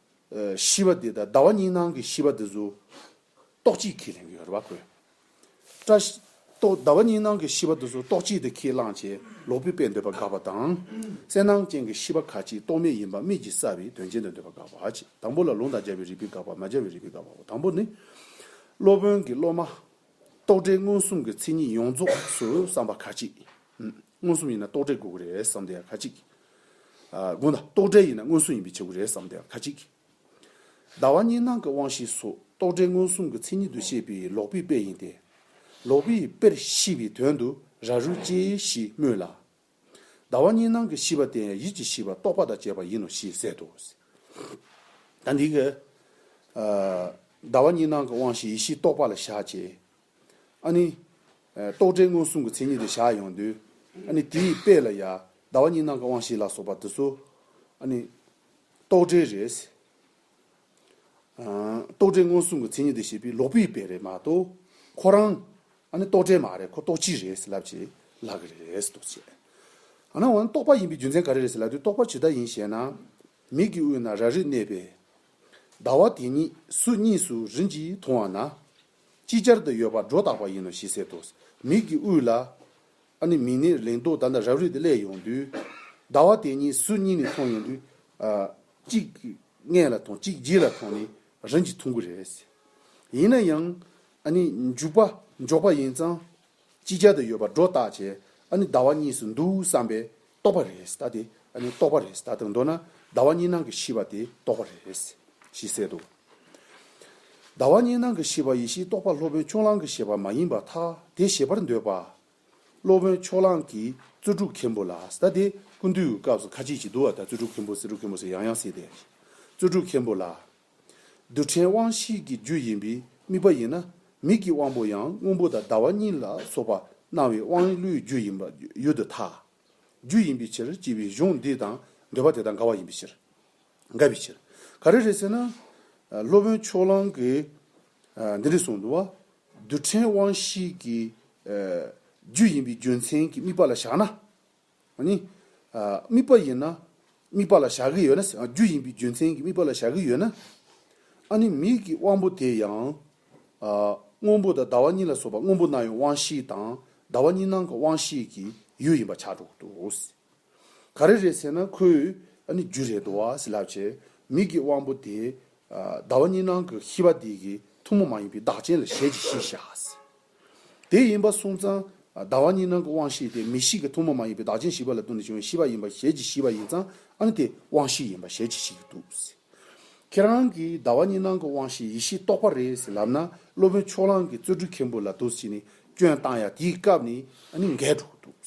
ཤི་བ་དེ་དང་ཟླ་བ་གཉིས་ནང་གི་ཤི་བ་དེ་ཚོ་ཏོག་གཅིག་གིས་ལེན་གྱི་ཡོད་རེད་བ་ཀོས། བཀྲ་ཤིས། ཏོག་ཟླ་བ་གཉིས་ནང་གི་ཤི་བ་དེ་ཚོ་ཏོག་གཅིག་དེ་ཁས་བླངས་བྱས་ལོག་པའི་དཔེ་འདོད་པ་འགག་པ་དང། གསལ་སྣང་ཅན་གྱི་ཤི་བ་ཁ་ཅིག་ཏོག་མེད་ཡིན་པ་དམིགས་ཀྱིས་བསལ་བའི་དོན་ཅན་དུ་འདོད་པ་འགག་པ་བ་ཅི་དང་པོ་ལ་ལུང་དང་སྦྱར་བའི་རིགས་པས་འགག་པ་མ་སྦྱར་བའི་རིགས་པས་འགག་པའོ་དང་པོ་ནི། སློབ་དཔོན་གྱིས་སློབ་མ། རྟོག་བྲལ་མངོན་སུམ་གྱི་མཚན་ཉིད་ཡོངས་རྫོགས་སུ་བསམ་པ་ཁ་ཅིག། མངོན་སུམ་ཡིན་ན་རྟོག་བྲལ་དགོས་ཀྱི་རེད་བསམ་དེ་ཡང་ཁ་ཅིག། དགོངས་དག་རྟོག་བྲལ་ཡིན་ན་མངོན་སུམ་ཡིན་པའི་བྱེད་སྒོ་རེད་བསམ་དེ་ཡང་ཁ་ཅིག། ཟླ་བ་གཉིས་སྣང་གི་དབང་ཤེས་སོགས་རྟོག་བྲལ་མངོན་སུམ་གྱི་མཚན་ཉིད་དུ་བཤད་པའི་ལོག་པའི་དཔེ་ཡིན་ཏེ། ལོག་པའི་དཔེར་ཤེས་པའི་དོན་དུ་ར་རུ་སྐྱེ་ཞེས་སྨོས་ལ། ཟླ་བ་གཉིས་སྣང་གི་ཤེས་པ་དེ་ཡང་ཡིད་ཀྱི་ཤེས་པ་རྟོག་པ་དང་བཅས་པ་ཡིན་ནོ་ཞེས་ཟད་དོ། ད་འདི་སྐད། ཟླ་བ་གཉིས་སྣང་གི་དབང་ཤེས་ཡིད་ཤེས་རྟོག་པ་ལ་བཞག་ཅེས་ཨཱ་ནི། རྟོག་བྲལ་མངོན་སུམ་གྱི་མཚན་ཉིད་དུ་བཞག་ཡོང་དུས། ཨཱ་ནི་དེའི་དཔེ་ལ་ཡ། ཟླ་བ་གཉིས་སྣང་གི་དབང་བཞི་ལ་སོགས་པ་འདི་སོ། ཨཱ་ནི། རྟོག་བྲལ་རེས། རྟོག་བྲལ་མངོན་སུམ་གྱི་མཚན་ཉིད་དུ་བཞེད་པའི་ལོག་པའི་དཔེ་རེད་མ་གཏོགས། ཁོ་རང། ཨཱ་ནི་རྟོག་བྲལ་མ་རེད་ཁོ་རྟོག་ཕྱིར་རེད་ཟེར་ལབ་ཅེས་ལབ་ཀྱི་རེད་ཟེར་དོགས་བྱས། ཨ་ནའོ་ཨཱ་ནི་རྟོག་པ་ཡིན་པའི་རྒྱུ་མཚན་ག་རེ་རེད་ཟེར་ལབ་དུས་རྟོག་པ་ཇི་ལྟར་ཡིན་ཞེ་ན། མིག་གི་དབུས་ན་ར་རིས་གནས་པས། ཟླ་བ་དེ་ཉིད་སུ་གཉིས་སུ་རིམ་གྱིས་མཐོང་བ་ན། ཅིག་ཅར་དུ་ཡོད་པར་སྒྲོ་བཏགས་པ་ཡིན་ནོ་ཞེས་ཟེར་ཏོ། མིག་གི་དབུས་ལ། ཨ་ནི་མིག་ནི་ལེགས་མདོག་ད་ལྟ་རབ་རིབ་ཏུ་བསླད་ཡོང་དུས། ཟླ་བ་དེ་གཉིས་སུ་གཉིས་ནས་མཐོང་ཡོང་དུས། གཅིག་སྔས་ལ་མཐོང་གཅིག་རྗེས་ལ་མཐོང་ནི་རིམ་གྱིས་མཐོང་གི་རེད། ཡིན་ན་ཡང། ཨ་ནི་འཇུག་པ་འཇོག་པ་ཡིན་ཙང། ཅི་བྱ་དུ་ཡོད་པར་སྒྲོ་བཏགས་བྱས་ཨ་ནི་ཟླ་བ་གཉིས་སུ་འདུག་བསམ་པས་རྟོགས་པ་རེད་ད་དེ་ཨ་ནི་རྟོགས་པ་རེད་ད་དེར་མདོར་ན་ཟླ་བ་གཉིས་སྣང་གི་ཤི་བ་དེ་རྟོགས་པ་རེད། ཞེས་གསལ་འདུག་ཟླ་བ་གཉིས་སྣང་གི་ཤི་བ་ཡེ་ཤེས་རྟོགས་པ་སློབ་དཔོན་ཕྱོགས་གླང་གི་བཞེད་པ་མ་ཡིན་པ་ཐ་དད་བཞེད་པར་འདོད་པ། སློབ་དཔོན་ཕྱོགས་གླང་གིས་རྩོལ་སྒྲུབ་མཁན་པོ་ལ་ད་དེ་ཀུན་འདུས་ཀྱི་སྐབས་སུ་ཁ་ཅིག་ཅིག་འདུག་བ་དང་རྩོལ་སྒྲུབ་མཁན་པོ་རྩོལ་སྒྲུབ་མཁན་པོ་ཟེར་ཡང་ཡང་སྲིད་དེ། རྩོལ་སྒྲུབ་མཁན་པོ་ལ་རྡུལ་ཕྲན་དབང་བཞི་གི་རྒྱུ་ཡིན་པའི་དམིགས་པ་ཡིན་ན་མིག་གི་དབང་པོ་ཡང་སྔོན་པོ་དང་ཟླ་བ་གཉིས་ལ་སོགས་པ་སྣང་བའི་དབང་བློའི་རྒྱུ་ཡིན་པ་ཡུལ་དུ་ཐལ། རྒྱུ་ཡིན་པའི་ཕྱིར་སྐྱེ་བའི་གཞུང་འདི་དང་འདོད་པ་དེ་དང་འགལ་བ་ཡིན་པའི་ཕྱིར། འགལ་བའི་ཕྱིར། ག་རེ་རེད་ཟེར་ན། སློབ་དཔོན་ཕྱོགས་གླང་གིས་འདི་རེད་གསུངས་འདུག་བ། རྡུལ་ཕྲན་དབང་བཞི་གི་རྒྱུ་ཡིན་པའི་རྒྱུ་མཚན་གྱི་དམིགས་པ་ལ་བཞག་ན། ཨ་ནི། དམིགས་པ་ཡིན་ན། དམིགས་པ་ལ་བཞག་གི་ཡོད་ན། རྒྱུ་ཡིན་པའི་རྒྱུ་མཚན་གྱིས་དམིགས་པ་ལ་བཞག་གི་ཡོད་ན། ཨ་ནི་མིག་གི་དབང་པོ་དེ་ཡང། སྔོན་པོ་དང་ཟླ་བ་གཉིས་ལ་སོགས་པ་སྔོན་པོ་སྣང་ཡུལ་དབང་བཞི་དང། ཟླ་བ་གཉིས་སྣང་གི་དབང་བཞི་གི་ཡུལ་ཡིན་པར་བྱ་གྲུབ་ཏུ། ག་རེ་རེད་ཟེར་ན་ཁོས་ཨ་ནི་རྒྱུ་རེད་འདུག་ཟེར་ལབ་བྱས། མིག་གི་དབང་པོ་དེ། ཟླ་བ་གཉིས་སྣང་གི་ཤེས་པ་དེ་གི་ཐུན་མོང་མ་ཡིན་པའི་བདག་རྐྱེན་ལ་ཞལ་གྱིས་ཤེས་བྱ། དེ་ཡིན་པ་སོང་ཙང། ཟླ་བ་གཉིས་ནང་གི་དབང་ཤེས་དེ་མི་ཞིག་གི་ཐུན་མོང་མ་ཡིན་པའི་བདག་རྐྱེན་བཞི་པ་ལ་བསྟུན་ནས་བྱུང་བའི་ཤེས་པ་ཡིན་པ་ཞལ་གྱིས་ཤེས་པ་ཡིན་ཙང་ཨང་དེ་དབང་ཤེས་ཡིན་པ་ཞལ་གྱིས་ཤེས་ཀྱི་འདུག། ཁྱེད་རང་གིས་ཟླ་བ་གཉིས་ནང་གི་དབང་ཤེས་ཡེ་ཤེས་རྟོགས་པ་རེད་ཟེར་ལབ་ན་སློབ་དཔོན་ཕྱོགས་གླང་གི་རྩོད་སྒྲུག་མཁན་པོ་ལ་དུས་ཕྱིས་ནས་སྐྱོན་བཏང་ཡ་དེའི་སྐབས་ནས་ཨ་ནི་འགལ་འགྲོ་གི་འདུག།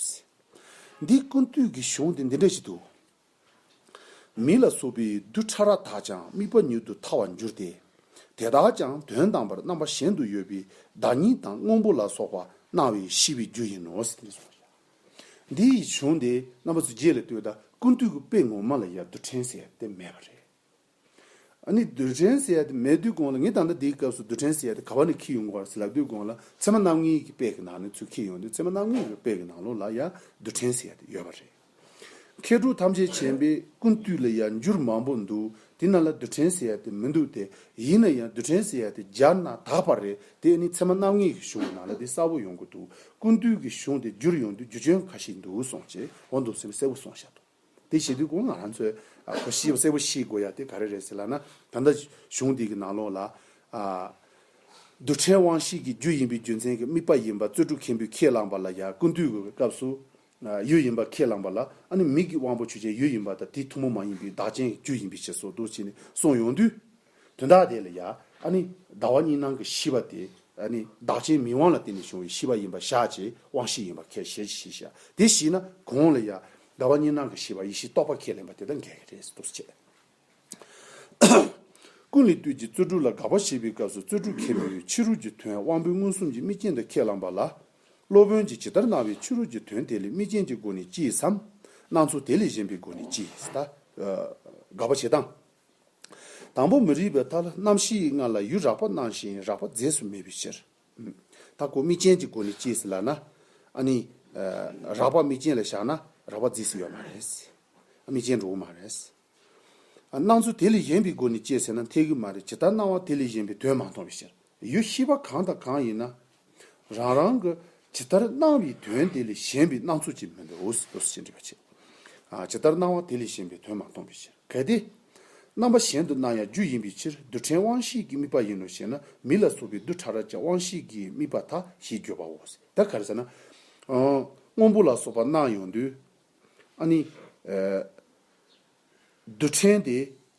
འདིའི་ཀུན་བཏུས་ཀྱི་གཞུང་དེ་འདི་འདྲ་ཞིག་འདུག། མི་ལ་སོགས་པའི་རྡུལ་ཕྲ་རགས་དག་ཀྱང་དམིགས་པ་ཉིད་དུ་ཐར་བར་འགྱུར་ཏེ། དེ་དག་ཀྱང་དོན་དམ་པར་རྣམ་པ་གཞན་དུ་ཡོད་པའི་བདག་ཉིད་དང་སྔོན་པོ་ལ་སོགས་པ་སྣང་བས་ཤི་བའི་རྒྱུ་ཡིན་ནོ། འདི་ཡིས་བྱུང་སྟེ་རྣམ་པ་ཚོ་རྗེས་ལ་ལྟོས་དང་ཀུན་བཏུས་ཀྱི་དཔེ་ངོ་མ་ལ་ཡར་རྡུལ་ཕྲན་ཟེར་ཏེ་མེད་པ་རེད། ཨ་ནི་རྡུལ་ཕྲན་ཟེར་ཏེ་མེད་དུས་གོང་ལ་ངས་ད་ལྟ་འདིའི་སྐབས་སུ་རྡུལ་ཕྲན་ཟེར་ཏེ་ག་བ་ནས་འཁྱིལ་ཡོང་གི་བར་ཟེར་ལབ་དུས་གོང་ལ་མཚན་མ་རྣམ་ལྔའི་གི་དཔེ་གི་ནང་ནས་ཚུར་འཁྱིལ་ཡོང་དུས་མཚན་མ་རྣམ་ལྔའི་གི་དཔེ་གི་ནང་ལོགས་ལ་ཡང་རྡུལ་ཕྲན་ཟེར་ཏེ་ཡོད་པ་རེད། མཁས་གྲུབ་ཐམས་ཅད་མཁྱེན་པའི་ཀུན་བཏུས་ལ་ཡང་འགྱུར་མང་པོ་འདུག་དེ་རྣམས་ལ་རྡུལ་ཕྲན་ཟེར་ཏེ་མི་འདུག་སྟེ་ཡིན་ན་ཡང་རྡུལ་ཕྲན་ཟེར་ཏེ་སྦྱར་ན་དག་པ་རེད་དེ་ཨ་ནི་མཚན་མ་རྣམ་ལྔའི་གི་གཞུང་གི་ནང་ལ་དེ་གསལ་བོ་ཡོང་གི་འདུག་ཀུན་བཏུས་གི་གཞུང་དེ་བསྒྱུར་ཡོང་དུས་རྒྱུ་ཆོས་ག་ཞིག་འདུག་གསུངས་རྗེས་འོ་འདུག་སེམས་གསལ་བོ་གསུངས་ཤག་འདུག། དེ་བྱེད་དུས་གོང་ང་རང་ཚོས་གོ་ཤེས་པ་གསལ་པོ་ཤེས་དགོས་ཡ་དེ་ག་རེ་རེད་ཟེར་ལགས་ན་ད་ལྟ་གཞུང་འདི་གི་ནང་ལོགས་ལ། རྡུལ་ཕྲན་དབང་ཤེས་ཀྱི་རྒྱུ་ཡིན་པའི་རྒྱུ་མཚན་གྱི་དམིགས་པ་ཡིན་པ་གཙོད་ཕྲུག་མཁན་པོས་ཁས་བླངས་པ་ལ་ཡ་ཀུན་བཏུས་དགོས་པའི་སྐབས་སུ། ཡུལ་ཡིན་པ་ཁས་བླངས་པ་ལ་ཨ་ནི་མིག་གི་དབང་པོ་ཆོས་ཅན་ཡུལ་ཡིན་པ་དང་དེའི་ཐུན་མོང་མ་ཡིན་པའི་བདག་ཅན་གྱི་རྒྱུ་ཡིན་པའི་ཕྱིར་སོགས་དུ་བྱས་ནས་གསུངས་ཡོང་དུས། དོན་དག་དེ་ལ་ཡ། ཨ་ནི། ཟླ་བ་གཉིས་སྣང་གི་ཤི་བ་དེ། ཨ་ནི། བདག་ཅན་མིང་དབང་ལ་བརྟེན་ནས་བྱུང་བའི་ཤི་བ་ཡིན་པར་བཞག་ཅེས་དབང་ཤེས་ཡིན་པར་ཁས་ཞེས་ཅི་ཞིག་བྱ། དེ་ཞིག་ན། གོང་ལ་ཡ། ཟླ་བ་གཉིས་སྣང་གི་ཤི་བ་ཡེ་ཤེས་རྟོགས་པ་ཁས་ལེན་པ་དེ་དང་འགལ་གྱི་རེད་ཟེར་དུས་སུ་བྱས། ཀུན་ལས་བཏུས་ཀྱི་རྩོལ་དྲུག་ལ་དགག་པ་བྱེད་པའི་སྐབས་སུ་རྩོལ་དྲུག་མཁན་པོས་ཕྱི་རོལ་གྱི་དོན་དབང་པོའི་མངོན་སུམ་གྱི་དམིགས་རྐྱེན་དུ་ཁས་བླངས་པ་ལ། སློབ་དཔོན་གྱིས་ཇི་ལྟར་སྣང་བའི་ཕྱི་རོལ་གྱི་དོན་དེ་ལས་དམིགས་རྐྱེན་གྱི་སྒོ་ནས་སྐྱེས་སམ། སྣང་ཚུལ་དེ་ལས་གཞན་པའི་སྒོ་ནས་སྐྱེས། དགག་པ་བྱེད་སྟངས། དང་པོ་མི་རིགས་པའི་ཐ་ལ་རྣམ་བཞིའི་ངང་ལ་ཡུལ་རགས་པ་སྣང་ཞིང་རགས་པ་རྫས་སུ་མེད་པའི་ཕྱིར། ད་གོ་དམིགས་ཅན་གྱི་སྒོ་ནས་དཔྱད་ཟིན་ལགས་ན། ཨ་ནི། རགས་པ་དམིགས་ཅན་ལ་བཞག་ན་རགས་པ་རྫས་སུ་ཡོད་མ་རེད། དམིགས་ཅན་འགྲོ་གི་མ་རེད། སྣང་ཚུལ་དེ་ལས་གཞན་པའི་སྒོ་ནས་དཔྱད་ཟིན་ན་འཐད་གི་མ་རེད་ཇི་ལྟར་སྣང་བ་དེ་ལས་གཞན་པའི་དོན་མ་མཐོང་བའི་ཕྱིར། ཡུལ་ཤེས་པ་གང་དང་གང་ཡིན་ན། རང་རང་གི་ཇི་ལྟར་སྣང་བའི་དོན་དེ་ལས་གཞན་པའི་སྣང་ཚུལ་ཅན་མི་འདོད་དོ་ཞེས་འདྲི་བར་བྱེད། ཇི་ལྟར་སྣང་བ་དེ་ལས་གཞན་པའི་དོན་མ་མཐོང་བའི་ཕྱིར། གལ་ཏེ། རྣམ་པ་གཞན་དུ་སྣང་ཡང་རྒྱུ་ཡིན་པའི་ཕྱིར་རྡུལ་ཕྲན་དབང་ཤེས་ཀྱི་དམིགས་པ་ཡིན་ནོ་ཞེ་ན་མི་ལ་སོགས་པའི་རྡུལ་ཕྲ་རབ་ཀྱང་དབང་ཤེས་ཀྱི་དམིགས་པ་དག་ཞེས་བརྗོད་པའོ། དེ་ག་རེ་ཟེར་ན། སྔོན་པོ་ལ་སོགས་པ་སྣང་ཡོང་དུས། རྡུལ་ཕྲན་དེ་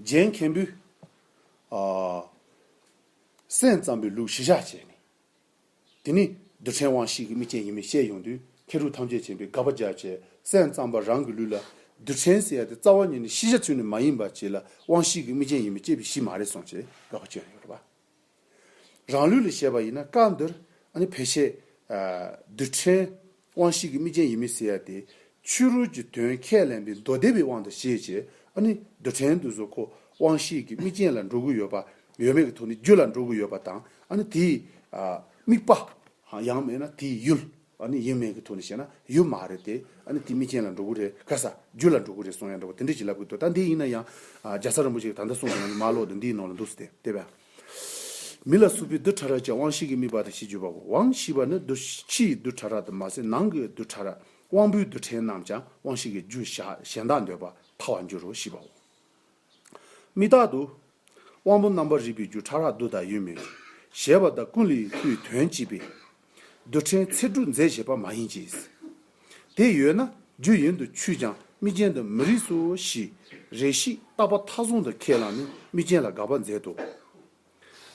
རྗེ་མཁན་པོས། སེམས་ཙམ་པའི་ལུགས་གཞི་བཞག་བྱས་ནས། དེ་ནས་རྡུལ་ཕྲན་དབང་ཤེས་ཀྱི་དམིགས་ཅན་ཡིན་མིན་ཤེས་ཡོང་དུས་མཁས་གྲུབ་ཐམས་ཅད་མཁྱེན་པའི་དགག་པ་རྒྱག་བྱས་སེམས་ཙམ་པ་རང་གི་ལུས་ལ་རྡུལ་ཕྲན་བསྲེ་ཡ་དེ་རྩ་བ་ཉིད་ནས་ཤེས་བྱ་ཚུལ་ནི་མ་ཡིན་པ་བྱས་ལ་དབང་ཤེས་ཀྱི་དམིགས་ཅན་ཡིན་མིན་དཔྱད་པའི་གཞི་མ་རེད་གསུངས་བྱས་དགག་པ་བྱས་ཡོད་པ། རང་ལུས་ལ་བྱས་པ་ཡིན་ན་བཀའ་འདིར་ནི་ཕལ་ཆེར། རྡུལ་ཕྲན་དབང་བཞི་གི་དམིགས་ཅན་ཡིན་མི་སྲིད་ཡ་དེ། ཕྱི་རོལ་གྱི་དོན་ཁས་ལེན་པའི་མདོ་སྡེ་པའི་དབང་དུ་བྱས་ཀྱི་ནི་རྡུལ་ཕྲན་དུ་གཟུགས་ཁོ་དབང་བཞི་གི་དམིགས་ཅན་ལ་འགྲོ་གི་ཡོད་པ་ཡོད་མེད་ཀྱི་ཐོག་ནས་རྒྱུ་ལ་འགྲོ་གི་ཡོད་པ་དང་ནི་དེའི་དམིགས་པ། ཡང་མེད་ན་དེའི་ཡུལ། ཨ་ནི་ཡིན་མིན་གྱི་ཐོག་ནས་བཤད་ན་ཡོད་མ་རེད་དེ། ཨ་ནི་དེ་མི་ཅན་ལ་འགྲོ་གི་རེད་དཀའ་ས། རྒྱུ་ལ་འགྲོ་གི་རེད་སོང་ཡང་འགྲོ་བ་དེ་འདྲས་ཅིག་ལབ་གི་འདུག་ད་འདི་ཡིན་ན་ཡང། རྒྱ་བཟའ་རིན་པོ་ཆེ་གིས་ད་ལྟ་གསུངས་དོན་ང་ནི་མ་ཀློག་དུས་འདིའི་ནང་ལ་འདུག་ཟེར་ཏེ། དེ་བས། མི་ལ་སུ་ཕའི་རྡུལ་ཕྲ་རགས་ཀྱང་དབང་ཤེས་ཀྱི་དམིགས་པ་དང་ཞེས་བརྗོད་པ་བོ། དབང་ཞེས་པ་ནི་རྡུལ་ཕྱིའི་རྡུལ་ཕྲ་རགས་དུ་མ་ཟད་ནང་གི་རྡུལ་ཕྲ་རགས་དབང་པོའི་རྡུལ་ཕྲན་རྣམས་ཀྱང་དབང་ཤེས་ཀྱི་རྒྱུ་གཞན་དག་འདོད་པ་ཐ་བར་འགྱུར་རོ་ཞེས་པའོ། མི་རྟག་ཏུ། དབང་པོ་རྣམ་པར་རིག་པའི་རྒྱུ་ཕྲ་རགས་བསྡུ་དང་ཡོད་མེད་གཞལ་བ་དང་ཀུན་ལས་སྐུའི་དོན་སྤྱི་པས། རྡུལ་ཕྲན་ཚེགས་དྲུག་མཛེས་བྱེད་པ་མ་ཡིན་གྱི། དེ་ཡོད་ན་རྒྱུ་ཡིན་དུ་ཆུད་ཀྱང་དམིགས་རྐྱེན་དུ་མི་རིགས་སོ་ཞེས་རེ་ཞིག་རྟག་པ་མཐའ་བཟུང་དུ་ཁས་བླངས་ནས་དམིགས་རྐྱེན་ལ་དགག་པ་མཛད་དོ།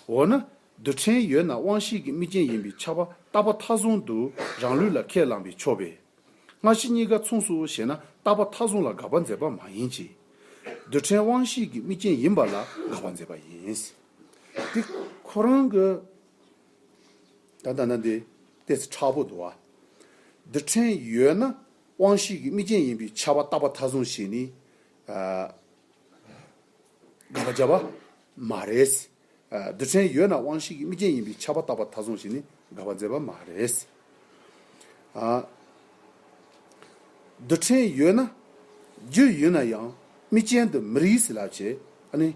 འོ་ན། རྡུལ་ཕྲན་ཡོད་ན་དབང་ཤེས་ཀྱི་དམིགས་རྐྱེན་ཡིན་པའི་ཆགས་པ་རྟག་པ་མཐའ་བཟུང་དུ་རང་ལུས་ལ་ཁས་བླངས་པས་ཆོག་པས། སྔ་ཕྱི་གཉིས་ཀ་མཚུངས་སོ་ཞེ་ན་རྟག་པ་མཐའ་བཟུང་ལ་དགག་པ་མཛད་པ་མ་ཡིན་གྱི། རྡུལ་ཕྲན་དབང་ཤེས་ཀྱི་དམིགས་རྐྱེན་ཡིན་པ་ལ་དགག་པ་མཛད་པ་ཡིན། འདི་ཁོ་རང་གི། ད་ལྟ་ན་འདི་ལྟས་ཚེ་ཁྲག་པོ་དུ་བ། རྡུལ་ཕྲན་ཡོད་ན་དབང་ཤེས་ཀྱི་དམིགས་རྐྱེན་ཡིན་པའི་ཆགས་པ་རྟག་པ་མཐའ་བཟུང་ཞེས་ནི། དགག་བྱ་བ་མ་རེད། རྡུལ་ཕྲན་ཡོད་ན་དབང་ཤེས་ཀྱི་དམིགས་རྐྱེན་ཡིན་པའི་ཁྱབ་པ་བཏགས་པ་ཐ་ཚོང་ཞིག་ནི་དགག་པ་མཛད་པ་མ་རེད། རྡུལ་ཕྲན་ཡོད་ན། རྒྱུ་ཡོད་ན་ཡང་དམིགས་རྐྱེན་དུ་མི་རིགས་ཟེར་ལབ་ཅེས་ནི་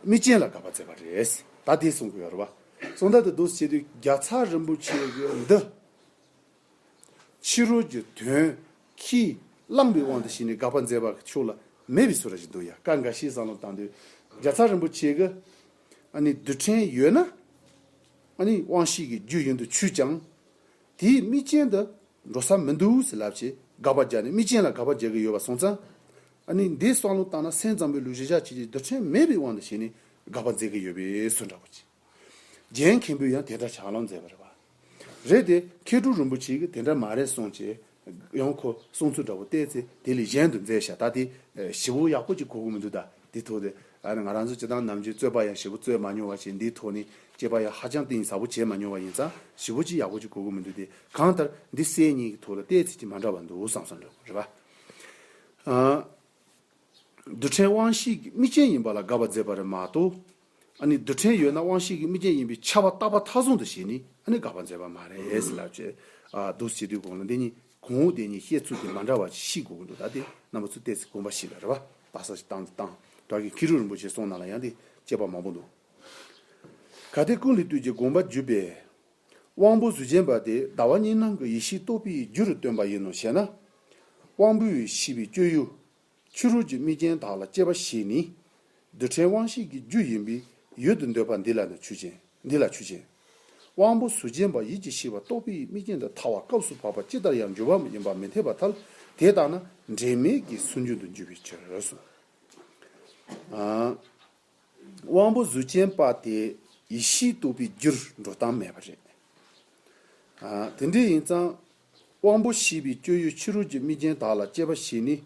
དམིགས་རྐྱེན་ལ་དགག་པ་མཛད་པ་རེད། ད་དེ་གསུང་དགོས་ཡོད་རེད་བ། གསུང་བརྡ་དེ་བསྡུ་བྱེད་དུས་བརྒྱ་ཚར་རིན་པོ་ཆེ་གི་འདི། ཕྱི་རོལ་གྱི་དོན་གྱིས་བསླངས་པའི་དབང་དུ་བྱས་ནས་དགག་པ་མཛད་པ་ཕྱོགས་ལ་མེད་པའི་ཚུལ་ར་བཞིན་དུ་ཡང་བཀའ་འགའ་ཤས་སང་ལོ་དང་དུས་བརྒྱ་ཚར་རིན་པོ་ཆེ་གི་རྡུལ་ཕྲན་ཡོད་ན་དབང་ཤེས་ཀྱི་རྒྱུ་ཡིན་དུ་ཆུད་ཀྱང་དེའི་དམིགས་རྐྱེན་དུ་འགྲོ་ས་མི་འདུག་ཟེར་ལབ་ཅེས་དགག་པ་རྒྱག་ནས་དམིགས་རྐྱེན་ལ་དགག་པ་རྒྱག་གི་ཡོད་པ་གསུངས་ཙང་འདིའི་སང་ལོ་དང་ན་སེང་ཙམ་པོའི་ལུགས་བཞི་ཞག་གཅིག་གི་རྡུལ་ཕྲན་མེད་པའི་དབང་དུ་བྱས་ནས་དགག་པ་མཛད་ཀྱི་ཡོད་པའི་ཚུལ་འདྲ་པོ་གྱིས། རྒྱན་མཁན་པོས་ཡང་དེ་འདྲ་བྱ་ལོང་མཛད་པ་རེད་པ། རེད་དེ་མཁས་གྲུབ་རིན་པོ་ཆེས་ཀྱི་དེ་འདྲ་མ་རེད་གསུངས་ཅེས་ཡང་ཁོ་གསུངས་ཚུལ་འདྲ་བོ་བལྟས་ཚེ་དེ་ལས་གཞན་དུ་མཛད་བཞག་ད་དེ་ཞི་བོ་ཡག་པོ་ཅིག་གོ་གི་མི་འདུག་ད་དེ་ཐོག་དེ་ང་རང་ཚོས་སྤྱི་བཏང་ནམ་རྒྱུན་རྩོད་པ་ཡང་ཞི་བོ་རྩོད་མ་མྱོང་བ་བྱས་འདིའི་ཐོག་ནས་དཔྱད་པ་ཡང་ཧ་ཅང་གཏིང་ཟབ་པོ་བྱས་མ་མྱོང་བ་ཡིན་ཙང་ཞི་བོ་ཅིག་ཡག་པོ་ཅིག་གོ་གི་མི་འདུག་དེ་གང་ལྟར་འདི་གསལ་རྙེད་ཀྱི་ཐོག་ལ་བལྟས་ཚེ་ཅིག་མ་འདྲ་བ་འདུག་བསམ་བསམ་འདྲ་བོ་རེད་པ། རྡུལ་ཕྲན་དབང་བཞིའི་དམིགས་ཅན་ཡིན་པ་ལ་དགའ་བ་མཛད་པ་རེད་མ་གཏོགས། ཨ་ནི་རྡུལ་ཕྲན་ཡོད་ན་དབང་ཤེས་ཀྱི་དམིགས་རྐྱེན་ཡིན་པའི་ཆ་བ་རྟག་པ་མཐའ་བཟུང་དུ་ཞེས་ནི་ཨ་ནི་དགག་པར་མཛད་པ་མ་རེད། ལབ་ཅེས་འདུག་བྱེད་དུས་གོང་ལ་འདི་གཉིས་གོང་འོག་བསྟན་གཉིས་བཤད་ཚུལ་དེ་མ་འདྲ་བ་ཞིག་གོ་གི་འདུག་ད་དེ་རྣམ་པ་ཚུར་བལྟས་ཚེ་དགོངས་པ་ཞིག་ལ་རེ་བ་ད་ས་ཞིག་བཏང་སྟེ་བཏང་གི་ཁི་རུ་རིན་པོ་ཆེའི་གསུང་ནང་ལ་ཡང་དེ་སྐྱེས་པ་མང་པོ་འདུག་གལ་ཏེ་ཀུན་ལས་བཏུས་ཀྱི་དགོངས་པ་བརྒྱུད་པས་དབང་པོ་གཟུགས་ཅན་པ་དེ་ཟླ་བ་གཉིས་སྣང་གི་ཡེ་ཤེས་རྟོགས་པའི་རྒྱུ་རུ་སྟོན་པ་ཡིན་ནོ་ཞེ་ན། དབང་པོའི་ཤེས་པའི་སྤྱོད་ཡུལ་ཕྱི་རོལ་གྱི་དམིགས་རྐྱེན་དག་ལ་སྐྱེ་བ་བཞི་ནི། རྡུལ་ཕྲན་དབང་ཤེས་ཀྱི་རྒྱུ་ཡིན་པས་ཡུལ་དུ་འདོད་པ་འདི་ལ་ནི་ཆོས་ཅན། འདི་ལ་ཆོས་ཅན། དབང་པོ་གཟུགས་ཅན་པ་ཡིད་ཀྱི་ཤེས་པ་རྟོག་པའི་དམིགས་རྐྱེན་དུ་ཐར་བ་སྐབས་སུ་བབ་པ་ཅི་ལྟར་ཡང་འགྱུར་བ་མ་ཡིན་པ་མི་འཐད་པ་ཐལ། དེ་ལྟ་ན་འབྲེལ་མེད་ཀྱི་སུན་འབྱིན་དུ་འགྱུར་བའི་ཕྱིར་རོ། དབང་པོ་གཟུགས་ཅན་པ་དེ་ཡིད་ཤེས་རྟོག་པའི་རྒྱུར་འགྲོ་སྟངས་མེད་པ་རེད། དེ་འདྲ་ཡིན་ཙང། དབང་པོ་བཞི་པའི་སྤྱོད་ཡུལ་ཕྱི་རོལ་གྱི་དམིགས་རྐྱེན་དག་ལ་སྤྱད་པ་བཞི་ནི།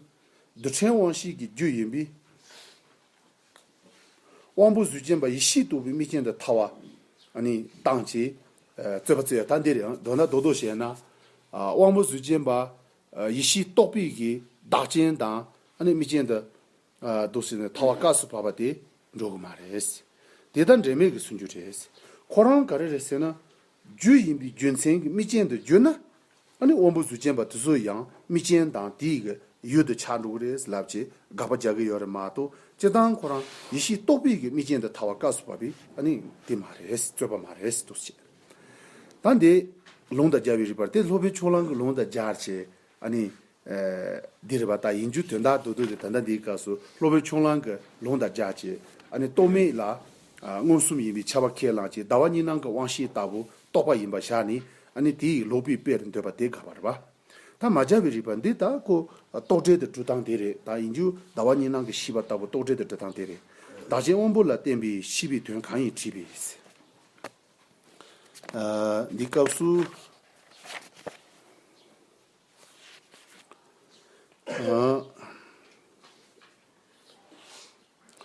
རྡུལ་ཕྲན་དབང་བཞི་ཀྱི་རྒྱུ་ཡིན་པས། དབང་པོ་གཟུགས་ཅན་པ་ཡེ་ཤེས་རྟོགས་པའི་དམིགས་རྐྱེན་དུ་ཐ་བ། ནི། དང་བཅས། རྩོད་པ་རྩོད་ཡ་ད་འདིར་ཡང་འདོད་ན་འདོད་དོ་ཞེ་ན། དབང་པོ་གཟུགས་ཅན་པ། ཡེ་ཤེས་རྟོགས་པའི་གིས་བདག་རྐྱེན་དང། དམིགས་རྐྱེན་དུ། འདུག་ཟེར་ནས་ཐ་བ་སྐབས་སུ་བབས་པ་དེ་འགྲོ་གི་མ་རེད། དེ་དང་འབྲེལ་མེད་ཀྱི་གསུང་རྒྱུ་རེད། ཁོ་རང་ག་རེ་རེད་ཟེར་ན། རྒྱུ་ཡིན་པའི་རྒྱུ་མཚན་གྱི་མིག་ཅན་དུ་བསྒྱུར་ན། ཨཱ་ནི་དབང་པོ་གཟུགས་ཅན་པ་དེ་ཚོ་ཡང་མིག་ཅན་དང་དེའི་གི་ཡུལ་དུ་ཆགས་འགྲོ་གི་རེད་ལབ་ཅེས་དགག་པ་རྒྱག་གི་ཡོད་རེད་མ་གཏོགས་སྤྱིར་བཏང་ཁོ་རང་ཡེ་ཤེས་རྟོགས་པའི་གི་མིག་ཅན་དུ་ཐ་བ་སྐབས་སུ་བབས་པའི་ཨཱ་ནི་དེ་མ་རེད་རྩོད་པ་མ་རེད་འདུག་བྱས། ད་འདི་ལུང་དང་སྦྱར་བའི་རིགས་པར་དེ་ལྷོ་བོད་ཕྱོགས་གླང་གི་ལུང་དང་སྦྱར་བྱས་ཨཱ་ནི་འདིར་བ་ད་ཡིན་རྒྱུ་དོན་དག་ཏུ་འདུག་སྟེ་ད་ལྟ་འདིའི་སྐབས་སུ་གློ་བོའི་ཁྱུང་གླང་གི་ལུང་དང་སྦྱར་བྱས་ཨ་ནི་རྟོག་མེད་ལ། མངོན་སུམ་ཡིན་པའི་ཆ་བ་ཁས་བླངས་ཀྱི་ཟླ་བ་གཉིས་སྣང་གི་དབང་ཤེས་ལྟ་བུ་རྟོགས་པ་ཡིན་པར་བཞག་ནས་ཨ་ནི་དེ་ཡིས་ལོག་པའི་དཔེར་འདོད་པ་དེ་དགག་པར་བ་ད་མ་སྦྱར་བའི་རིགས་པ་འདི་དག་གོ། རྟོག་བྲལ་དུ་འགྲོ་སྟངས་དེ་རེད་ད་ཡིན་རྒྱུ་ཟླ་བ་གཉིས་སྣང་གི་ཤེས་པ་ལྟ་བུ་རྟོག་བྲལ་དུ་འགྲོ་སྟངས་དེ་རེད། བདག་རྐྱེན་དབང་པོ་ལ་བརྟེན་པའི་ཤེས་པའི་དོན་གང་ཡིན་དྲིས་པས། འདིའི་སྐབས་སུ། དབང་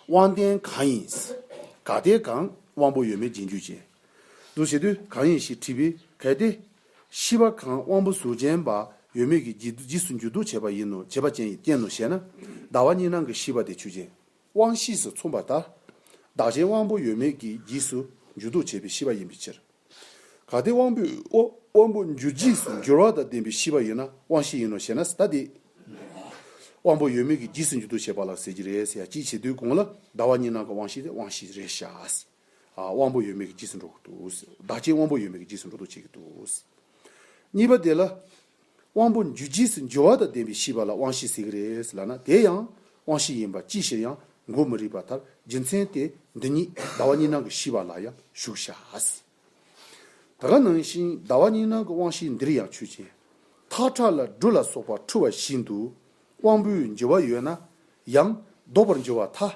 ལྡན་གང་ཡིན། ག་དེ་གང་དབང་པོ་ཡོད་མེད་རྗེས་འཇུག་ཅན། འདུ་བྱེད་དུས་གང་ཡིན་ཞེས་དྲིས་པས་གལ་ཏེ། ཤི་བ་གང་དབང་པོ་གཟུགས་ཅན་པ་ཡོད་མེད་ཀྱི་རྗེས་སུ་འཇུག་འདུ་བྱེད་པ་ཡིན་ནོ་བྱེད་པ་ཅན་གྱི་རྐྱེན་ནོ་ཞེ་ན། ཟླ་བ་གཉིས་སྣང་གི་ཤི་བ་དེ་ཆོས་ཅན། དབང་གཤིས་སུ་མཚུངས་པ་ལྟར། བདག་གཞན་དབང་པོ་ཡོད་མེད་ཀྱི་རྗེས་སུ་འཇུག་ལྡོག་བྱེད་པའི་ཤེས་པ་ཡིན་པའི་ཕྱིར། གལ་ཏེ་དབང་པོས་དབང་པོ་འཇུག་རྗེས་སུ་འགྱུར་བ་དང་ལྡན་པའི་ཤེས་པ་ཡོད་ན་དབང་གཤིས་ཡིན་ནོ་ཞེ་ན་ད་དེ། དབང་པོ་ཡོད་མེད་ཀྱི་རྗེས་སུ་འཇུག་ལྡོག་བྱེད་པ་ལ་ཟེར་གྱི་རེད་ཟེར་ཡ་ཅིག་བྱེད་དུས་གོང་ལ་ཟླ་བ་གཉིས་ནང་གི་དབང་གཤིས་དེ་དབང་གཤིས་རེད་བྱ་སྲིད། དབང་པོ་ཡོད་མེད་ཀྱི་རྗེས་སུ་འགྲོ་གི་འདུག་བདག་ཅེས་དབང་པོ་ཡོད་མེད་ཀྱི་རྗེས་སུ་འགྲོ་འདུག་བྱེད་ཀྱི་འདུག་གཉིས་པ་དེ་ལ། དབང་པོ་འཇུ་རྗེས་སུ་འཇུ་བ་དང་ལྡན་པའི་ཤེས་པ་ལ་དབང་ཤེས་ཟེར་གྱི་རེད་ལ་ན་དེ་ཡང་དབང་ཤེས་ཡིན་པ་ཅིའི་ཕྱིར་ཡང་མགོ་མི་རིག་པ་ལྟར་རྒྱུ་མཚན་དེ་འདི་ཉིད་ཟླ་བ་གཉིས་སྣང་གི་ཤེས་པ་ལ་ཡང་ཞུགས་བྱ། ད་ག་ནང་བཞིན་ཟླ་བ་གཉིས་སྣང་གི་དབང་ཤེས་འདིར་ཡང་ཆོས་ཅན། ཐག་ཁྲ་ལ་སྦྲུལ་ལ་སོགས་པ་འཁྲུལ་བ་བཞིན་དུ་དབང་པོའི་འགྱུར་བ་ཡོད་ན་ཡང་ལྡོག་པར་འགྱུར་བ་ཐ།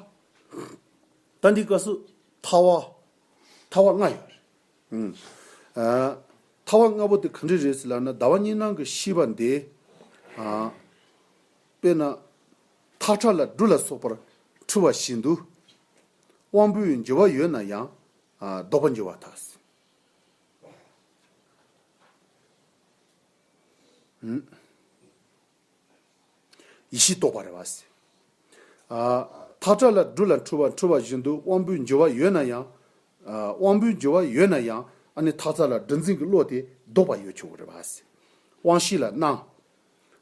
རྟ་འདི་ཀ་སུ། ཐ་བ། ཐ་བ་ལྔ་ཡོད་རེད། ཐ་བ་ལྔ་པོ་དེ་ག་འདྲི་རེད་ཟེར་ལ་ན་ཟླ་བ་གཉིས་ནང་གི་ཤི་བ་འདི། དཔེར་ན། ཐག་ཁྲ་ལ་འབྲུ་ལ་སོགས་པར་འཁྲུལ་བ་བཞིན་དུ། དབང་པོའི་འགྱུར་བ་ཡོད་ན་ཡང་ལྡོག་པ་འགྱུར་བ་དག་ཟིན། ཡེ་ཤེས་རྟོགས་པ་རེ་བ། མཐར་སྒྲ་ལ་སྒྲུ་ལ་འཁྲུལ་བ་འཁྲུལ་བ་བཞིན་དུ་དབང་པོའི་འགྱུར་བ་ཡོད་ན་ཡང། དབང་པོའི་འགྱུར་བ་ཡོད་ན་ཡང་ཨ་ནི་ཐག་ཚ་ལ་སྒྲ་འཛིན་གྱི་བློ་དེ་ལྡོག་པ་ཡོད་ཆོག་གི་རེ་བ། དབང་བཞི་ལ་སྣང།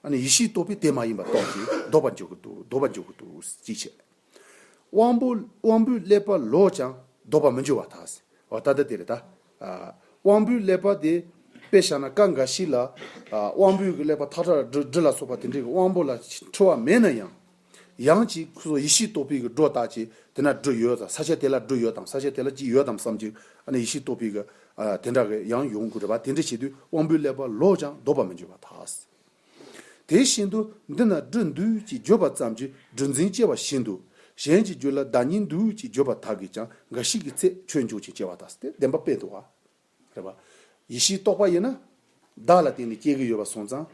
ཨ་ནི་ཡེ་ཤེས་རྟོགས་པས་དེ་མ་ཡིན་པ་རྟོགས་ཀྱིས་ལྡོག་པར་འཇོག་གི་འདུག་ཅེས་བཤད། དབང་པོ་དབང་པོའི་ཀླད་པ་ལོག་ཀྱང་ལྡོག་པར་མི་འགྱུར་བ་དག། ཨོ་ད་ལྟ་དེར་ད། དབང་པོའི་ཀླད་པ་དེ་དཔེ་བཞག་ན་ཀ་འགའ་ཞིག་ལ། དབང་པོའི་ཀླད་པ་ཐག་ཁྲ་འབྲུ་འབྲུ་ལ་སོགས་པ་དེ་འདྲའི་དབང་པོ་ལ་འཁྲུལ་བ་མེད་ན་ཡང། ཡང་ཅིག་གསོ་ཡེ་ཤེས་རྟོགས་པའི་སྒྲོ་བཏགས་ཀྱིས་དེ་ན་འབྲུ་ཡོད་ས་ཆ་དེ་ལ་འབྲུ་ཡོད་དམ་ས་ཆ་དེ་ལ་ཅི་ཡོད་དམ་བསམ་གྱིས་ཨ་ནི་ཡེ་ཤེས་རྟོགས་པའི་དེ་འདྲ་ཡང་ཡོང་དགོས་རེད་པ་དེ་འདྲ་བྱེད་དུས་དབང་པོའི་ཀླད་པ་ལོག་ཀྱང་ལྡོག་པར་མི་འགྱུར་བ་དག། དེ་བཞིན་དུ་འདི་ན་སྦྲུལ་འདུལ་ཅེས་བརྗོད་པ་ཙམ་གྱིས་སྦྲུལ་འཛིན་སྐྱེ་བ་བཞིན་དུ་གཞན་གྱི་རྒྱུད་ལ་བདག་ཉིད་འདུལ་ཅེས་བརྗོད་པ་དག་གིས་ཀྱང་འགའ་ཞིག་གི་ཚེ་ཆོས་འཇུག་ཅིང་སྐྱེ་བ་དག་སྟེ་བདེན་པ་དཔེ་དུ་བ། རེད་པ། ཡེ་ཤེས་རྟོགས་པ་ཡིན་ན། བདག་ལ་བརྟེན་ནས་སྐྱེ་གི་ཡོད་པར་སོང་ཙང།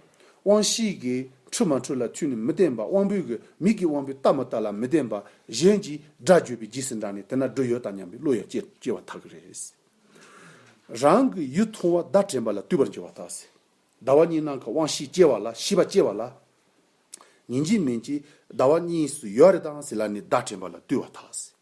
དབང་བཞིའི་གིས་འཁྲུལ་མ་འཁྲུལ་ལ་མཐུན་ནས་མི་བརྟེན་པ་དབང་པོའི་གིས་མིག་གི་དབང་པོའི་ལྟ་མ་ལྟ་ལ་མི་བརྟེན་པ་གཞན་གྱིས་སྒྲ་བརྗོད་པའི་རྗེས་སུ་འབྲངས་ནས་དེ་ན་སྦྲུལ་ཡོད་དམ་སྙམ་པའི་བློ་ཡང་སྐྱེ་སྐྱེ་བ་དག་གིས་རེད། རང་གི་ཡུལ་མཐོང་བ་བརྡ་དྲན་པ་ལ་བལྟོས་པར་འགྱུར་བ་དག་སེ། ཟླ་བ་གཉིས་ནང་གི་དབང་བཞི་སྐྱེ་བ་ལ་བཞི་པ་སྐྱེ་བ་ལ། ཉིན་གཅིག་མིན་གཅིག་ཟླ་བ་གཉིས་སུ་ཡོད་རེ་དང་ཟིལ་ལ་ནི་བརྡ་དྲན་པ་ལ་བརྟུལ་བ་དག།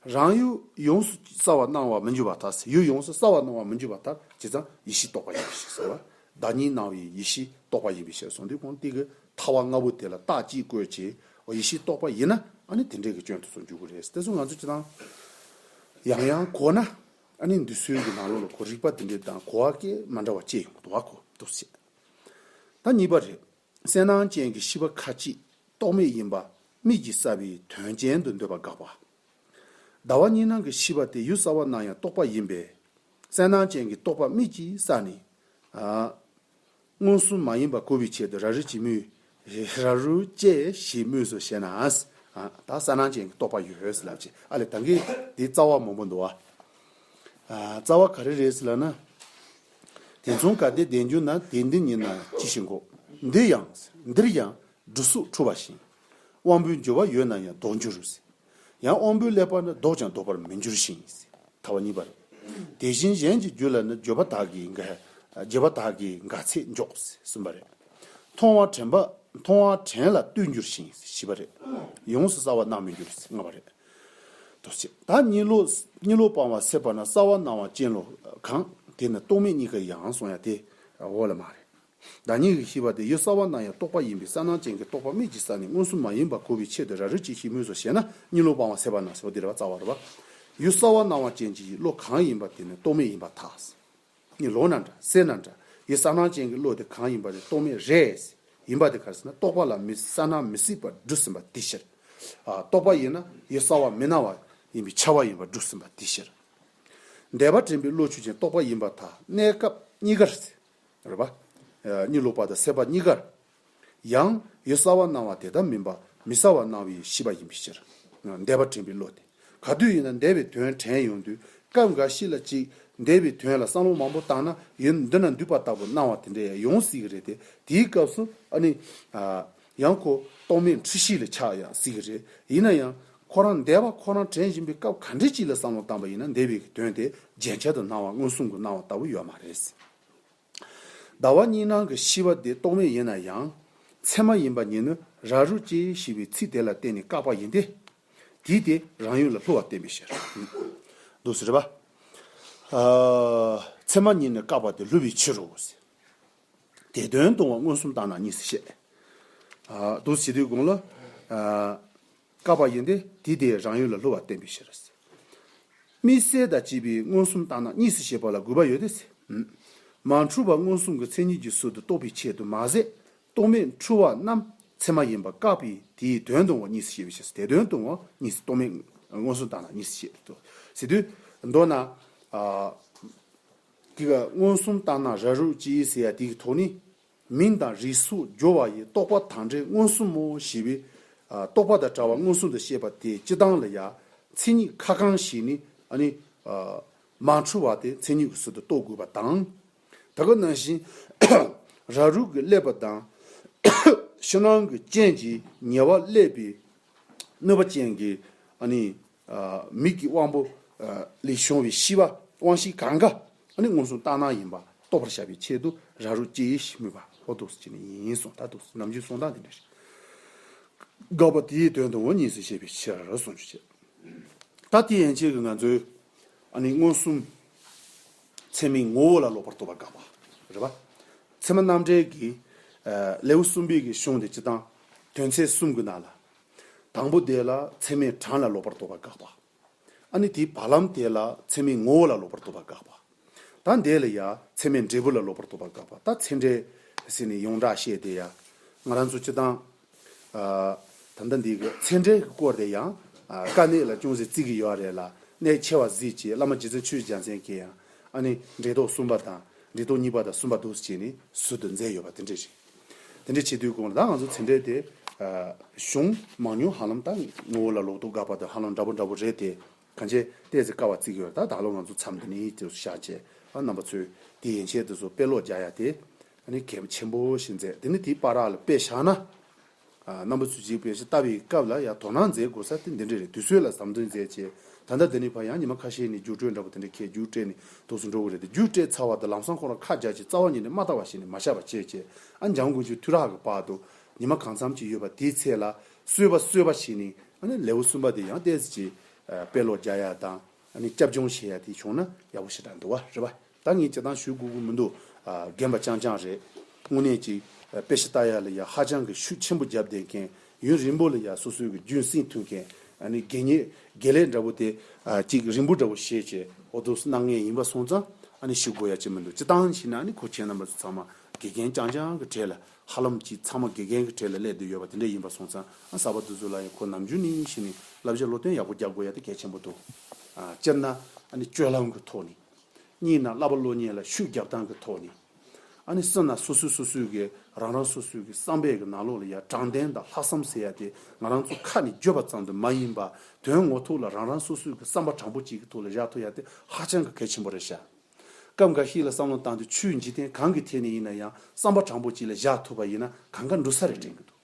རང་ཡུལ་ཡོངས་སུ་གསལ་བར་སྣང་བར་མི་འགྱུར་བ་དག་ཡུལ་ཡོངས་སུ་གསལ་བར་སྣང་བར་མི་འགྱུར་བ་ལྟར་བྱས་ཙང་ཡེ་ཤེས་རྟོགས་པ་ཡིན་པའི་ཕྱིར་ཟེར། བརྡ་གཉིས་སྣང་བའི་ཡེ་ཤེས་རྟོགས་པ་ཡིན་པའི་ཕྱིར་གཟུང་འདི་གོང་སྟེ་གི་ཐ་བ་ལྔ་པོ་དེ་ལ་རྟགས་ཀྱིས་བཀོད་ཅེས་པའོ་ཡེ་ཤེས་རྟོགས་པ་ཡིན་ན་ཨ་ནི་དེ་འདྲའི་གི་སྐྱོན་དུ་སོང་འཇུག་གི་རེད་དེ་ཚོ་ང་ཚོས་ཅི་དང་ཡང་ཡང་གོ་ན། ཨ་ནི་འདི་སོན་གྱི་ནང་ལོགས་ལ་གོ་རིག་པ་འདི་འདྲའི་དང་གོ་བ་སྐད་མ་འདྲ་བ་སྤྱད་ཡོང་དོ་བ་གོ་འདུག་བསད། ད་གཉིས་པ་རེད། གསལ་སྣང་ཅན་གྱི་ཤི་བ་ཁ་ཅིག་རྟོག་མེད་ཡིན་པ་དམིགས་ཀྱིས་བསལ་བའི་དོན་ཅན་དུ་འདོད་པ་དགག་པ། ཟླ་བ་གཉིས་སྣང་གི་ཤི་བ་དེ་ཡུལ་གསར་བ་སྣང་ཡང་རྟོག་པ་ཡིན་པས། གསལ་སྣང་ཅན་གྱི་རྟོག་པ་དམིགས་ཀྱིས་བསལ་ནས། མངོན་སུམ་མ་ཡིན་པ་གོ་བའི་ཆེད་དུ་ར་རི་བྱེད་མུས། ར་རུ་བཅས་ཞེས་མོས་སོ་ཞེ་ན། ད་ས་ནང་ཅན་གྱི་རྟོག་པ་ཡོད་ཟེར་ལབ་ཅིག་ཨ་ལས་ད་གིས་དེའི་རྩ་བ་མང་པོ་འདུག་ཨ། རྩ་བ་ག་རེ་རེད་ཟེར་ལབ་ན། དེ་མཚུངས་ག་དེ་བདེན་རྒྱུ་ན་དེ་འདི་ཉིད་ན་ཅི་བཞིན་གོ། འདི་ཡང་ཟེར་འདིར་ཡང་འབྲུ་གཟུགས་འཁྲུ་བ་བཞིན། དབང་པོའི་འགྱུར་བ་ཡོད་ན་ཡང་ལྡོག་འགྱུར། ཡང་དབང་པོའི་ཀླད་པ་ནི་བཟློག་ཀྱང་བཟློག་པར་མི་འགྱུར་ཞིང། ཐ་བ་གཉིས་པར། དེ་བཞིན་གཞན་གྱི་རྒྱུད་ལ་ནི་བརྗོད་པ་དག་གིས་འགའ། བརྗེད་པ་དག་གིས་འགའ་ཚེ་འཇོག། གསུམ་པ་རེ། མཐོང་བ་དྲན་པ། མཐོང་བ་དྲན་ལ་ལྟོས་འགྱུར་ཞིང་བཞི་པ་རེ། ཡོངས་སུ་སྲ་བ་སྣང་མི་འགྱུར་ལྔ་པ་རེ། དོ། ད་གཉིད་ལོག། གཉིད་ལོག་སྤང་བ་སད་པ་ན་སྲ་བ་སྣང་བ་ཅན་ལོག། གང། དེ་ནི་རྟོག་མེད་གཉིས་ཀ་ཡང་སོང་ཡང་དེ། འོག་ལ་མ་རེ། བདག་ཉིད་ཀྱི་ཤེས་པ་དེ་ཡོད་གསར་བ་ན་ཡང་རྟོག་པ་ཡིན་པས་གསལ་སྣང་ཅན་གྱི་རྟོག་པ་མིག་ཅིག་ས་ནས་མངོན་སུམ་མ་ཡིན་པར་གོ་བའི་ཆེད་དུ་ར་རོས་ཅིག་ཤིག་སྨོས་སོ་ཞེ་ན་གཉིད་ལོག་སྤང་བ་ཟད་པ་ན་ཟོ་དེ་རེ་བ་རྩ་བ་རེ་བ། ཡོད་གསར་བ་སྣང་བ་ཅན་གྱི་ཡིད་བློ་གང་ཡིན་པ་དེ་ནི་རྟོག་མེད་ཡིན་པར་ཐལ། གཉིད་ལོག་ན་འདྲ་སད་ན་འདྲ་ཡོད་གསར་སྣང་ཅན་གྱི་བློ་དེ་གང་ཡིན་པ་དེ་རྟོག་མེད་རེས་ཡིན་པ་དེ་གར་སེ་ན་རྟོག་པ་ལ་མི་གསལ་སྣང་མི་སྲིད་པར་བསྒྲུབས་ཟིན་པ་དེའི་ཕྱིར། རྟོག་པ་ཡིན་ན་ཡོད་གསར་བ་མི་སྣང་བ་ཡིན་པའི་ཆ་བ་ཡིན་པར་བསྒྲུབས་ཟིན་པ་དེའི་ཕྱིར། འདས་པ་དྲན་པའི་བློ་ཆོས་ཅན་རྟོག་པ་ཡིན་པར་ཐལ་གནས་སྐབས་གཉིས་ཀར་སེ་རེད་པ། གཉིད་ལོག་པ་དང་སད་པ་གཉིས་ཀར་ཡང་ཡོད་གསར་བར་སྣང་བ་དེ་ལྟར་མིན་པ་མི་གསར་བར་སྣང་བའི་ཤེས་པ་ཡིན་པའི་ཕྱིར། འདས་པ་དྲན་པའི་བློ་དེ་ག་དུས་ཡིན་ན་འདས་པའི་དོན་དྲན་ཡོང་དུས་སྐབས་འགའ་ཞིག་ལ་ཅིག་འདས་པའི་དོན་ལ་བསམ་བློ་མང་པོ་བཏང་ན་ཡུན་འདི་ན་འདུས་པ་ལྟ་བུ་སྣང་བ་དེ་འདྲ་ཡང་ཡོང་སྲིད་ཀྱི་རེད་དེ་དེའི་སྐབས་སུ་ཨ་ནི། ཡང་ཁོ་རྟོག་མེད་འཁྲུལ་ཤེས་ལས་ཆགས་ཡང་སྲིད་ཀྱི་རེད། ཡིན་ན་ཡང། ཁོ་རང་འདས་པ་ཁོ་རང་དྲན་བཞིན་པའི་སྐབས་ག་འདྲའི་སྤྱི་ལ་བསམ་བློ་བཏང་པ་ཡིན་ན་འདས་པའི་གི་དོན་དེ་རྗེན་ཆལ་དུ་སྣང་བ་མངོན་སུམ་དུ་སྣང་བ་ལྟ་བུ་ཡོད་མ་རེད། ཟླ་བ་གཉིས་སྣང་གི་ཤི་བ་དེ་རྟོག་མེད་ཡིན་ན་ཡང། ཚད་མ་ཡིན་པ་ཉིད་ནི་ར་རུ་སྐྱེ་ཞེས་པའི་ཚིག་དེ་ལ་བརྟེན་ནས་བཀག་པ་ཡིན་ཏེ། དེས་དེ་རང་ཡུལ་ལ་ལྷུ་བ་བསྟན་པའི་ཕྱིར། འདུག་ཟེར། ཚད་མ་ཉིད་ནི་བཀག་པ་དེ་ལྷུ་བའི་ཕྱིར་རོ། དེ་དོན་སྟོང་བ་མངོན་སུམ་བརྟགས་ན་གཉིས་སུ་བཤད། བདུད་བཞི་དུས་གོང་ལ། བསྐལ་པ་ཡིན་ཏེ་དེ་དེའི་རང་ཡུལ་ལ་སླུ་བར་བསྟན་པའི་ཕྱིར། དམིགས་བསལ་དང་བཅས་པའི་མངོན་སུམ་བརྟགས་ན་གཉིས་སུ་བཤད་པ་ལ་དགོས་པ་ཡོད་དེ། མ་འཁྲུལ་བ་མངོན་སུམ་གྱི་མཚན་ཉིད་ཀྱི་ཟུར་དུ་གཏོགས་པའི་ཆེད་དུ་མ་ཟད་རྟོག་མེད་འཁྲུལ་བ་རྣམས་ཚད་མ་ཡིན་པར་བཀག་པས་དེའི་དོན་སྟོང་བ་གཉིས་སུ་བཤད་པའི་ཕྱིར་དེ་དོན་སྟོང་བ་གཉིས་སུ་རྟོག་མེད་མངོན་སུམ་བརྟགས་ན་གཉིས་སུ་བཤད། མདོར་ན། འདི་ལ་མངོན་སུམ་བརྟགས་ན་ར་རུ་ཅི་ཡིན་ཟེར་ཡ་དེའི་དོགས་ནི། མིང་དང་རིས་སུ་སྦྱོར་བ་ཡི་རྟོག་པ་དང་འབྲེལ་མངོན་སུམ་མོ་ཞེས་པའི། རྟོག་པ་དང་བྲལ་བ་མངོན་སུམ་དུ་བཤད་པ་དེའི་སྤྱི་དང་ལ་ཡ། མཚན་ཉིད་ཁ་གང་ཞིག་ནི་ཨ་ནི། མ་འཁྲུལ་བ་དེ་མཚན་ཉིད་ཀྱི་ཟུར་དུ་རྟོགས་དགོས་པ་དང། ད་ག་ནང་བཞིན། ར་རུ་གི་བསླད་པ་དང། ཕྱི་ནང་གི་རྐྱེན་གྱིས་ཉེ་བར་བསླད་པའི། གནོད་པ་ཅན་གྱི་ཨ་ནི། མིག་གི་དབང་པོ་ལས་བྱུང་བའི་ཤི་བ་དབང་བཞི་གང་གཱ་ནི་མངོན་སུམ་རྟགས་སྣང་ཡིན་པ་རྟོགས་པར་བྱ་བའི་ཆེད་དུ་ར་རུ་སྐྱེ་ཡེ་ཤེས་སྨོས་པ་ཧོ་དུ་སུ་ཅི་ནི་ཡིན་གསུངས་ད་དུ་ནམ་རྒྱུན་གསུངས་སྟངས་དེ་འདྲ་ཞིག་དགག་པ་དེའི་དོན་དུའོ་གཉིས་སུ་བཤད་པའི་ཕྱིར་རོ་གསུངས་རྒྱུ་བྱས། ད་དེ་ཡན་ཆད་ཀྱི་ང་ཚོའི་མངོན་སུམ་ཚད་མའི་ངོ་བོ་ལ་ལོག་པར་རྟོག་པར་དགག་པ་རེད། པ་ཚད་མ་རྣམ་འགྲེལ་གྱི་ལེའུ་གསུམ་པའི་གཞུང་དེ་སྤྱི་དང་དོན་ཚད་གསུམ་གྱི་ནང་ལ་དང་པོ་དེ་ལ་ཚད་མའི་གྲངས་ལ་ལོག་པར་རྟོག་པ་དགག་པ། ཨ་ནི་དེའི་བར་ལམ་དེ་ལ་ཚད་མའི་ངོ་བོ་ལ་ལོག་པར་རྟོག་པ་དགག་པ། ད་འདས་ལ་ཡང་ཚད་མའི་འབྲས་བུ་ལ་ལོག་པར་རྟོག་པ་དགག་པ་ད་ཚད་འབྲས། ཟེར་ནས་ཡོངས་གྲགས་བཤད་དེ་ཡང་ང་རང་ཚོ་སྤྱི་བཏང། ད་ལྟ་འདི་གི་ཚད་འབྲས་ཀྱི་སྐོར་དེ་ཡང་དཀའ་གནད་ལ་ཅུང་ཟད་བརྩི་གི་ཡོད་རེད་ལ་གནད་ཆེ་བ་གཟིགས་ཀྱི་བླ་མ་རྗེ་བཙུན་ཆོས་རྒྱལ་མཚན་གྱིས་ཡང་ཨ་ནི་འབྲས་རྟོག་གསུམ་པ་དང་འབྲས་རྟོག་གཉིས་པ་དང་གསུམ་པ་དུ་བྱས་ནས་ཟུར་དུ་མཛད་ཡོད་པ་དེ་འདྲ་རེད། དེ་འདྲའི་བྱེད་དུས་གོང་ལ་ད་ང་ཚོ་ཚེ་འདས་དེ། གཞུང། མང་ཉུང་ཧ་ལམ་ད། ངོ་བོ་ལ་ལོག་རྟོག་འགག་པ་དང་ཧ་ལམ་འདྲ་པོ་འདྲ་པོ་རེད་དེ། གང་བྱས་བལྟས་ཚེ་དཀའ་བ་བརྩི་གི་ཡོད་ད་ད་ལོ་ང་ཚོ་མཚམས་འདི་ནས་ཡིད་དུ་བཞག་རྗེས་ཨ་རྣམ་པ་ཚོས་དེ་ཡན་ཆད་དུ་སོ་དཔེ་ཀློག་རྒྱག་ཡ་དེ། ཨ་ནི་གལ་ཆེན་པོ་ཞིག་མཛད་དེ་ནི་དེའི་པར་རག་ལ་དཔེ་བཞག་ན། རྣམ་པ་ཚུལ་གཅིག་པའི་ཕྱི་ལྟ་བའི་སྐབས་ལ་ཡང་དོ་སྣང་མཛད་དགོས་ས་དེ་འདི་འདྲ་རེད་དུས་ཚོད་ལ་ཟམ་ཐུང་མཛད་ཅེས་ད་ལྟ་འདི་ནས་བར་ཡང་ཉི་མ་ཁ་ཤས་ནས་རྒྱུགས་སྤྲོད་འདྲ་པོ་དེ་འདྲ་ཁས་རྒྱུགས་སྤྲད་ནས་དོགས་སུ་འགྲོ་གི་རེད་དེ་རྒྱུགས་སྤྲད་ཚར་བ་དང་ལམ་སང་ཁོང་ར་ཁ་རྒྱག་ཅིང་རྩ་བ་ཉིད་ནས་མ་བལྟ་བ་ཞིག་ནས་མ་བཞག་པ་བྱས་ཅེས་ཨ་འཇམ་དགུན་ཆོས་དུས་རག་གི་བར་དུ་ཉི་མ་གང་འཚམ་ཅིག་ཡོད་པ་དེའི་ཚད་ལ་གསོལ་བ་གསོལ་བ་བྱས་ནས་ལེའུ་གསུམ་པ་དེ་ཡང་བལྟས་ཅི་ཅེས་དཔེ་ཀློག་རྒྱག་ཡ་དང། ཨ་ནི་སྐྱབས་སྦྱོང་བྱེད་ཡ་དེ་བྱུང་ན་ཡག་པོ་ཞེ་དྲག་འདུག་བ་རེད་པ་ད་ངས་བྱེད་སྟངས་ཞུས་དགོས་དགོས་མི་འདུག་རྒན་པ་རྐྱང་རྐྱང་རེད་དངོས་གནས་ཀྱི་དཔེ་ཤ་སྟག་ཡག་ལ་ཡ་ཧ་ཅང་གི་ཤུགས་ཆེན་པོ་བརྒྱབ་བསྡད་མཁན་ཡུན་རིང་པོ་ལ་ཡ་སོ་སོའི་གི་རྒྱུན་སྲིང་མཐུན་མཁན་ཨ་ནི་དགེ་རྙེད་དགེ་ལེགས་འདྲ་པོ་དེ་གཅིག་རིང་པོ་འདྲ་པོ་ཤེས་ཀྱི་འོ་དོ་སྣང་ངན་ཡིན་པ་སོང་ཙང་ཨ་ནི་ཞུ་དགོས་ཡ་ཅི་མི་འདུག་སྤྱི་སྟངས་ཞིག་ན་ཨ་ནི་ཁོ་ཁྱེད་རྣམ་པ་ཚོ་ཚང་མ་དགེ་རྒན་རྐྱང་རྐྱང་གི་གྲས་ལ་ཧ་ལམ་གྱིས་ཚང་མ་དགེ་རྒན་གྱི་གྲས་ལ་སླེབས་བསྡད་ཡོད་པ་དེ་འདྲས་ཡིན་པ་སོང་ཙང་གསར་པ་དེ་ཚོ་ལ་ཡང་ཁོ་ནམ་རྒྱུན་ནས་ཡིན་བཞིན་ནས་བསླབ་བྱ་བློ་བརྟན་ཡག་པོ་རྒྱག་དགོས་ཡ་དེ་གལ་ཆེན་པོ་འདུག་སྤྱིར་ན། སྤྱོད་ལམ་གྱི་ཐོག་ནས། གཉིས་ན་བསླབ་པ་བློ་ཉེ་ལ་ཤུགས་རྒྱག་སྟངས་ཀྱི་ཐོག་ནས། གསུམ་ན་སོ་སོས་སོ་སོའི་གི་རང་རང་སོ་སོའི་གི་བསམ་པའི་གི་ནང་ལོགས་ལ་ཡ་དྲང་བདེན་དང་ལྷག་བསམ་ཟེར་ཡ་དེ་ང་རང་ཚོ་ཁ་ནས་བརྗོད་པ་ཙམ་དུ་མ་ཡིན་པ་དོན་ངོ་ཐུག་ལ་རང་རང་སོ་སོའི་གི་བསམ་པ་དྲང་པོ་གཅིག་གི་ཐུག་ལ་བཞག་ཐུབ་ཡ་དེ་ཧ་ཅང་གི་གལ་ཆེན་པོ་རེད་ཤག། སྐབས་འགའ་ཞིག་ལ་བསམ་བློ་བཏང་སྟེ་ཆུའི་འཇིག་རྟེན་གང་གི་ཐད་ནས་ཡིན་ན་ཡང་བསམ་པ་དྲང་པོ་གཅིག་ལ་བཞག་ཐུབ་པ་ཡིན་ན་གང་དགའ་འབྲུ་ས་རེ་དྲན་གྱི་འདུག་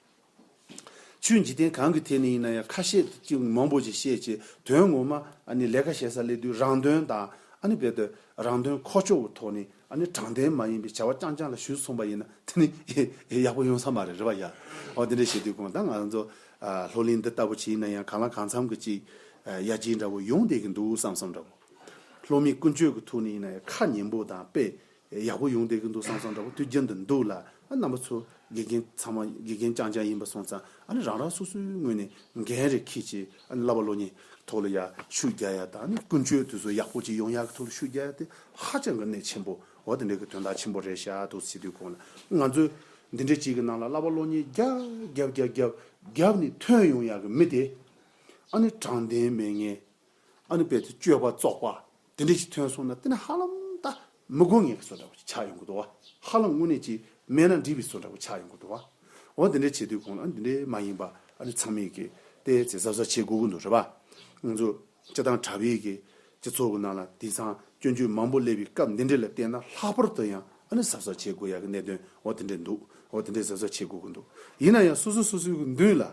ཆུའི་འཇིག་རྟེན་གང་གི་ཐད་ནས་ཡིན་ན་ཡང་ཁ་ཤས་ཀྱིས་མང་པོ་ཞིག་བཤད་ཅེས་དོན་ངོ་མ་ནི་ལས་ཀ་བྱེད་སར་སླེབས་དུས་རང་དོན་དང་རྦད་དེ་རང་དོན་ཁོག་ཆོད་པོ་ཐོག་ནས་དྲང་བདེན་མ་ཡིན་པའི་བྱ་བ་རྐྱང་རྐྱང་ལ་ཞུགས་སོང་པ་ཡིན་ན་དེ་ནི་ཡག་པོ་ཡོང་ས་མ་རེད་རེ་བ་ཡ་འོ་དེ་འདྲ་བྱེད་དུས་གང་ལྟར་ང་ཚོ་ལྷོ་གླིང་འདི་ལྟ་བུ་ཞིག་ཡིན་ན་ཡང་གང་ལ་གང་འཚམ་གྱི་ཅིག་ཡ་གྱིས་འདྲ་བོ་ཡོང་བསྡད་ཀྱི་འདུག་བསམ་བསམ་འདྲ་བོ། བློ་མིག་ཀུན་སྤྱོད་ཀྱི་ཐུགས་ནི་ཡིན་ན་ཡང་ཁ་ཉན་པོ་དང་དཔེ་ཡག་པོ་ཡོང་བསྡད་ཀྱི་འདུག་སང་སང་འདྲ་པོ་དུས་རྒྱུན་དུ་འདུག་ལ་རྣམ་པ་ཚོ་དགེ་རྒན་ཚང་མ་དགེ་རྒན་རྐྱང་རྐྱང་ཡིན་པ་སོང་ཙང་ཨ་ནི་རང་རང་སོ་སོའི་ངོས་ནས་འགན་རེ་ཁྱེད་ཀྱིས་ཨ་ནི་བསླབ་པ་བློ་ཉེས་ཐོག་ལ་ཡར་ཤུགས་རྒྱག་ཡ་དང་ཨ་ནི་ཀུན་སྤྱོད་དུས་ཚོད་ཡག་པོ་ཅིག་ཡོང་ཡ་གི་ཐོག་ལ་ཤུགས་རྒྱག་ཡ་དེ་ཧ་ཅང་གི་གནད་ཆེན་པོ་འོ་དེ་འདྲའི་གི་དོན་དག་ཆེན་པོ་རེད་ཤག་དུས་ཚོད་དུས་གོང་ལ་ང་ཚོས་འདི་འདྲའི་ཅིག་གི་ནང་ལ་བསླབ་པ་བློ་ཉེས་རྒྱག་རྒྱབ་རྒྱབ་རྒྱབ་རྒྱབ་ནི་ཐོན་ཡོང་ཡ་གི་མི་དེ་ཨ་ནི་དྲང་བདེན་མེད་ངེས་ཨ་ནུ་པའི་ཚེ་སྤྱོད་པ་བཙོག་པ་དེ་འདྲས་ཅིག་ཐོན་སོང་ན་དེ་ནི་ཧ་ལམ་ད་མི་དགོས་ངེས་ཀྱི་བཟོ་འདྲ་བོ་ཞིག་ཆགས་ཡོང་གི་འདུག་བ། ཧ་ལམ་དངོས་གནས་ཀྱིས་སྨྲས་ན་འདྲིས་པའི་བཟོ་འདྲ་བོ་ཆགས་ཡོང་གི་འདུག་བ། འོ་དེ་འདྲས་བྱེད་དུས་གོང་ལ་ཨ་ནི་དེ་འདྲས་མ་ཡིན་པ་ཨ་ནི་ཚང་མས་ཀྱིས་ཏེ་ཚེ་གཟབ་གཟབ་བྱེད་དགོས་ཀྱི་འདུག་རེད་བ། ང་ཚོ་སྤྱི་བཏང་དྲ་བའི་གི་སྤྱི་ཚོགས་ཀྱི་ནང་ལ་དེང་སང་སྐྱོན་བརྗོད་མང་པོ་སླེབས་པའི་སྐབས་འདི་འདྲས་ལ་བལྟས་ན་ལྷག་པར་དུ་ཡང་ཨ་ནི་གཟབ་གཟབ་བྱེད་དགོས་ཡག་གི་གནད་དོན་འོ་དེ་འདྲས་འདུག་འོ་དེ་འདྲས་གཟབ་གཟབ་བྱེད་དགོས་ཀྱི་འདུག་ཡིན་ན་ཡང་སོ་སོ་སོ་སོའི་གི་མདུན་ལ་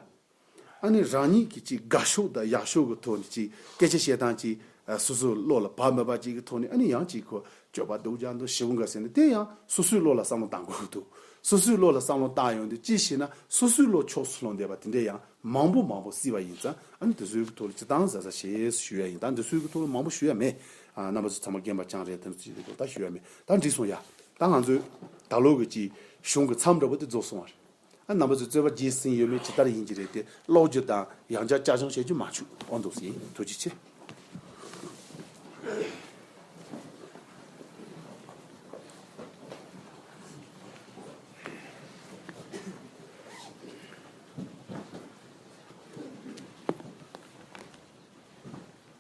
ཨ་ནི་རང་ཉིད་ཀྱིས་ཅིག་དགའ་ཤོས་དང་ཡག་ཤོས་ཀྱི་ཐོག་ནས་ཅིག་སྐད་ཆ་བཤད་སྟངས་ཅིག་སོ་སོའི་བློ་ལ་བབ་མི་བབ་ཅིག་གི་ཐོག་ནས་ཨ་ནི་ཡང་ཅིག་གོ་སྤྱོད་པ་སྡུག་ཅག་འདུག་ཞེ་བོ་འགའ་ཟེར་ནས་དེ་ཡང་སོ་སོའི་བློ་ལ་བསམ་བློ་བཏང་དགོས་ཀྱི་འདུག་སོ་སོའི་བློ་ལ་བསམ་བློ་བཏང་ཡོང་དུས་ཅི་ཞེ་ན་སོ་སོའི་བློ་ཕྱོགས་སུ་ལྷོང་བསྡད་པ་དེ་འདྲས་ཡང་མང་པོ་མང་པོ་སྲིད་པ་ཡིན་ཙང་ཨ་ནི་དེ་ཚོའི་གི་ཐོག་ལ་ཅི་བཏང་ཟ་ཟ་ཞེས་ཞུ་ཡ་ཡིན་ད་འདི་ཚོའི་གི་ཐོག་ལ་མང་པོ་ཞུ་ཡ་མེད་རྣམ་པ་ཚོ་ཚང་མ་རྒན་པ་རྐྱང་རེད་དེ་ཚོའི་གི་ཐོག་ད་ཞུ་ཡ་མེད་ད་འགྲིག་སོང་ཡ་ད་ང་ཚོའི་ད་ལོ་གི་ཅིག་གཞུང་གི་མཚམས་འདྲ་བོ་དེ་རྫོགས་སོང་བ་རེད། རྣམ་པ་ཚོས་རྩོད་པ་རྒྱས་ཟིན་ཡོད་མེད་ཇི་ལྟར་ཡིན་གྱི་རེད་དེ་ཀློག་རྒྱུ་དང་ཡང་བསྐྱར་བསྐྱར་སྦྱོང་བྱེད་རྒྱུ་མ་བཅུག་ཨོ་འདུག་སེ་ཐུགས་རྗེ་ཆེ།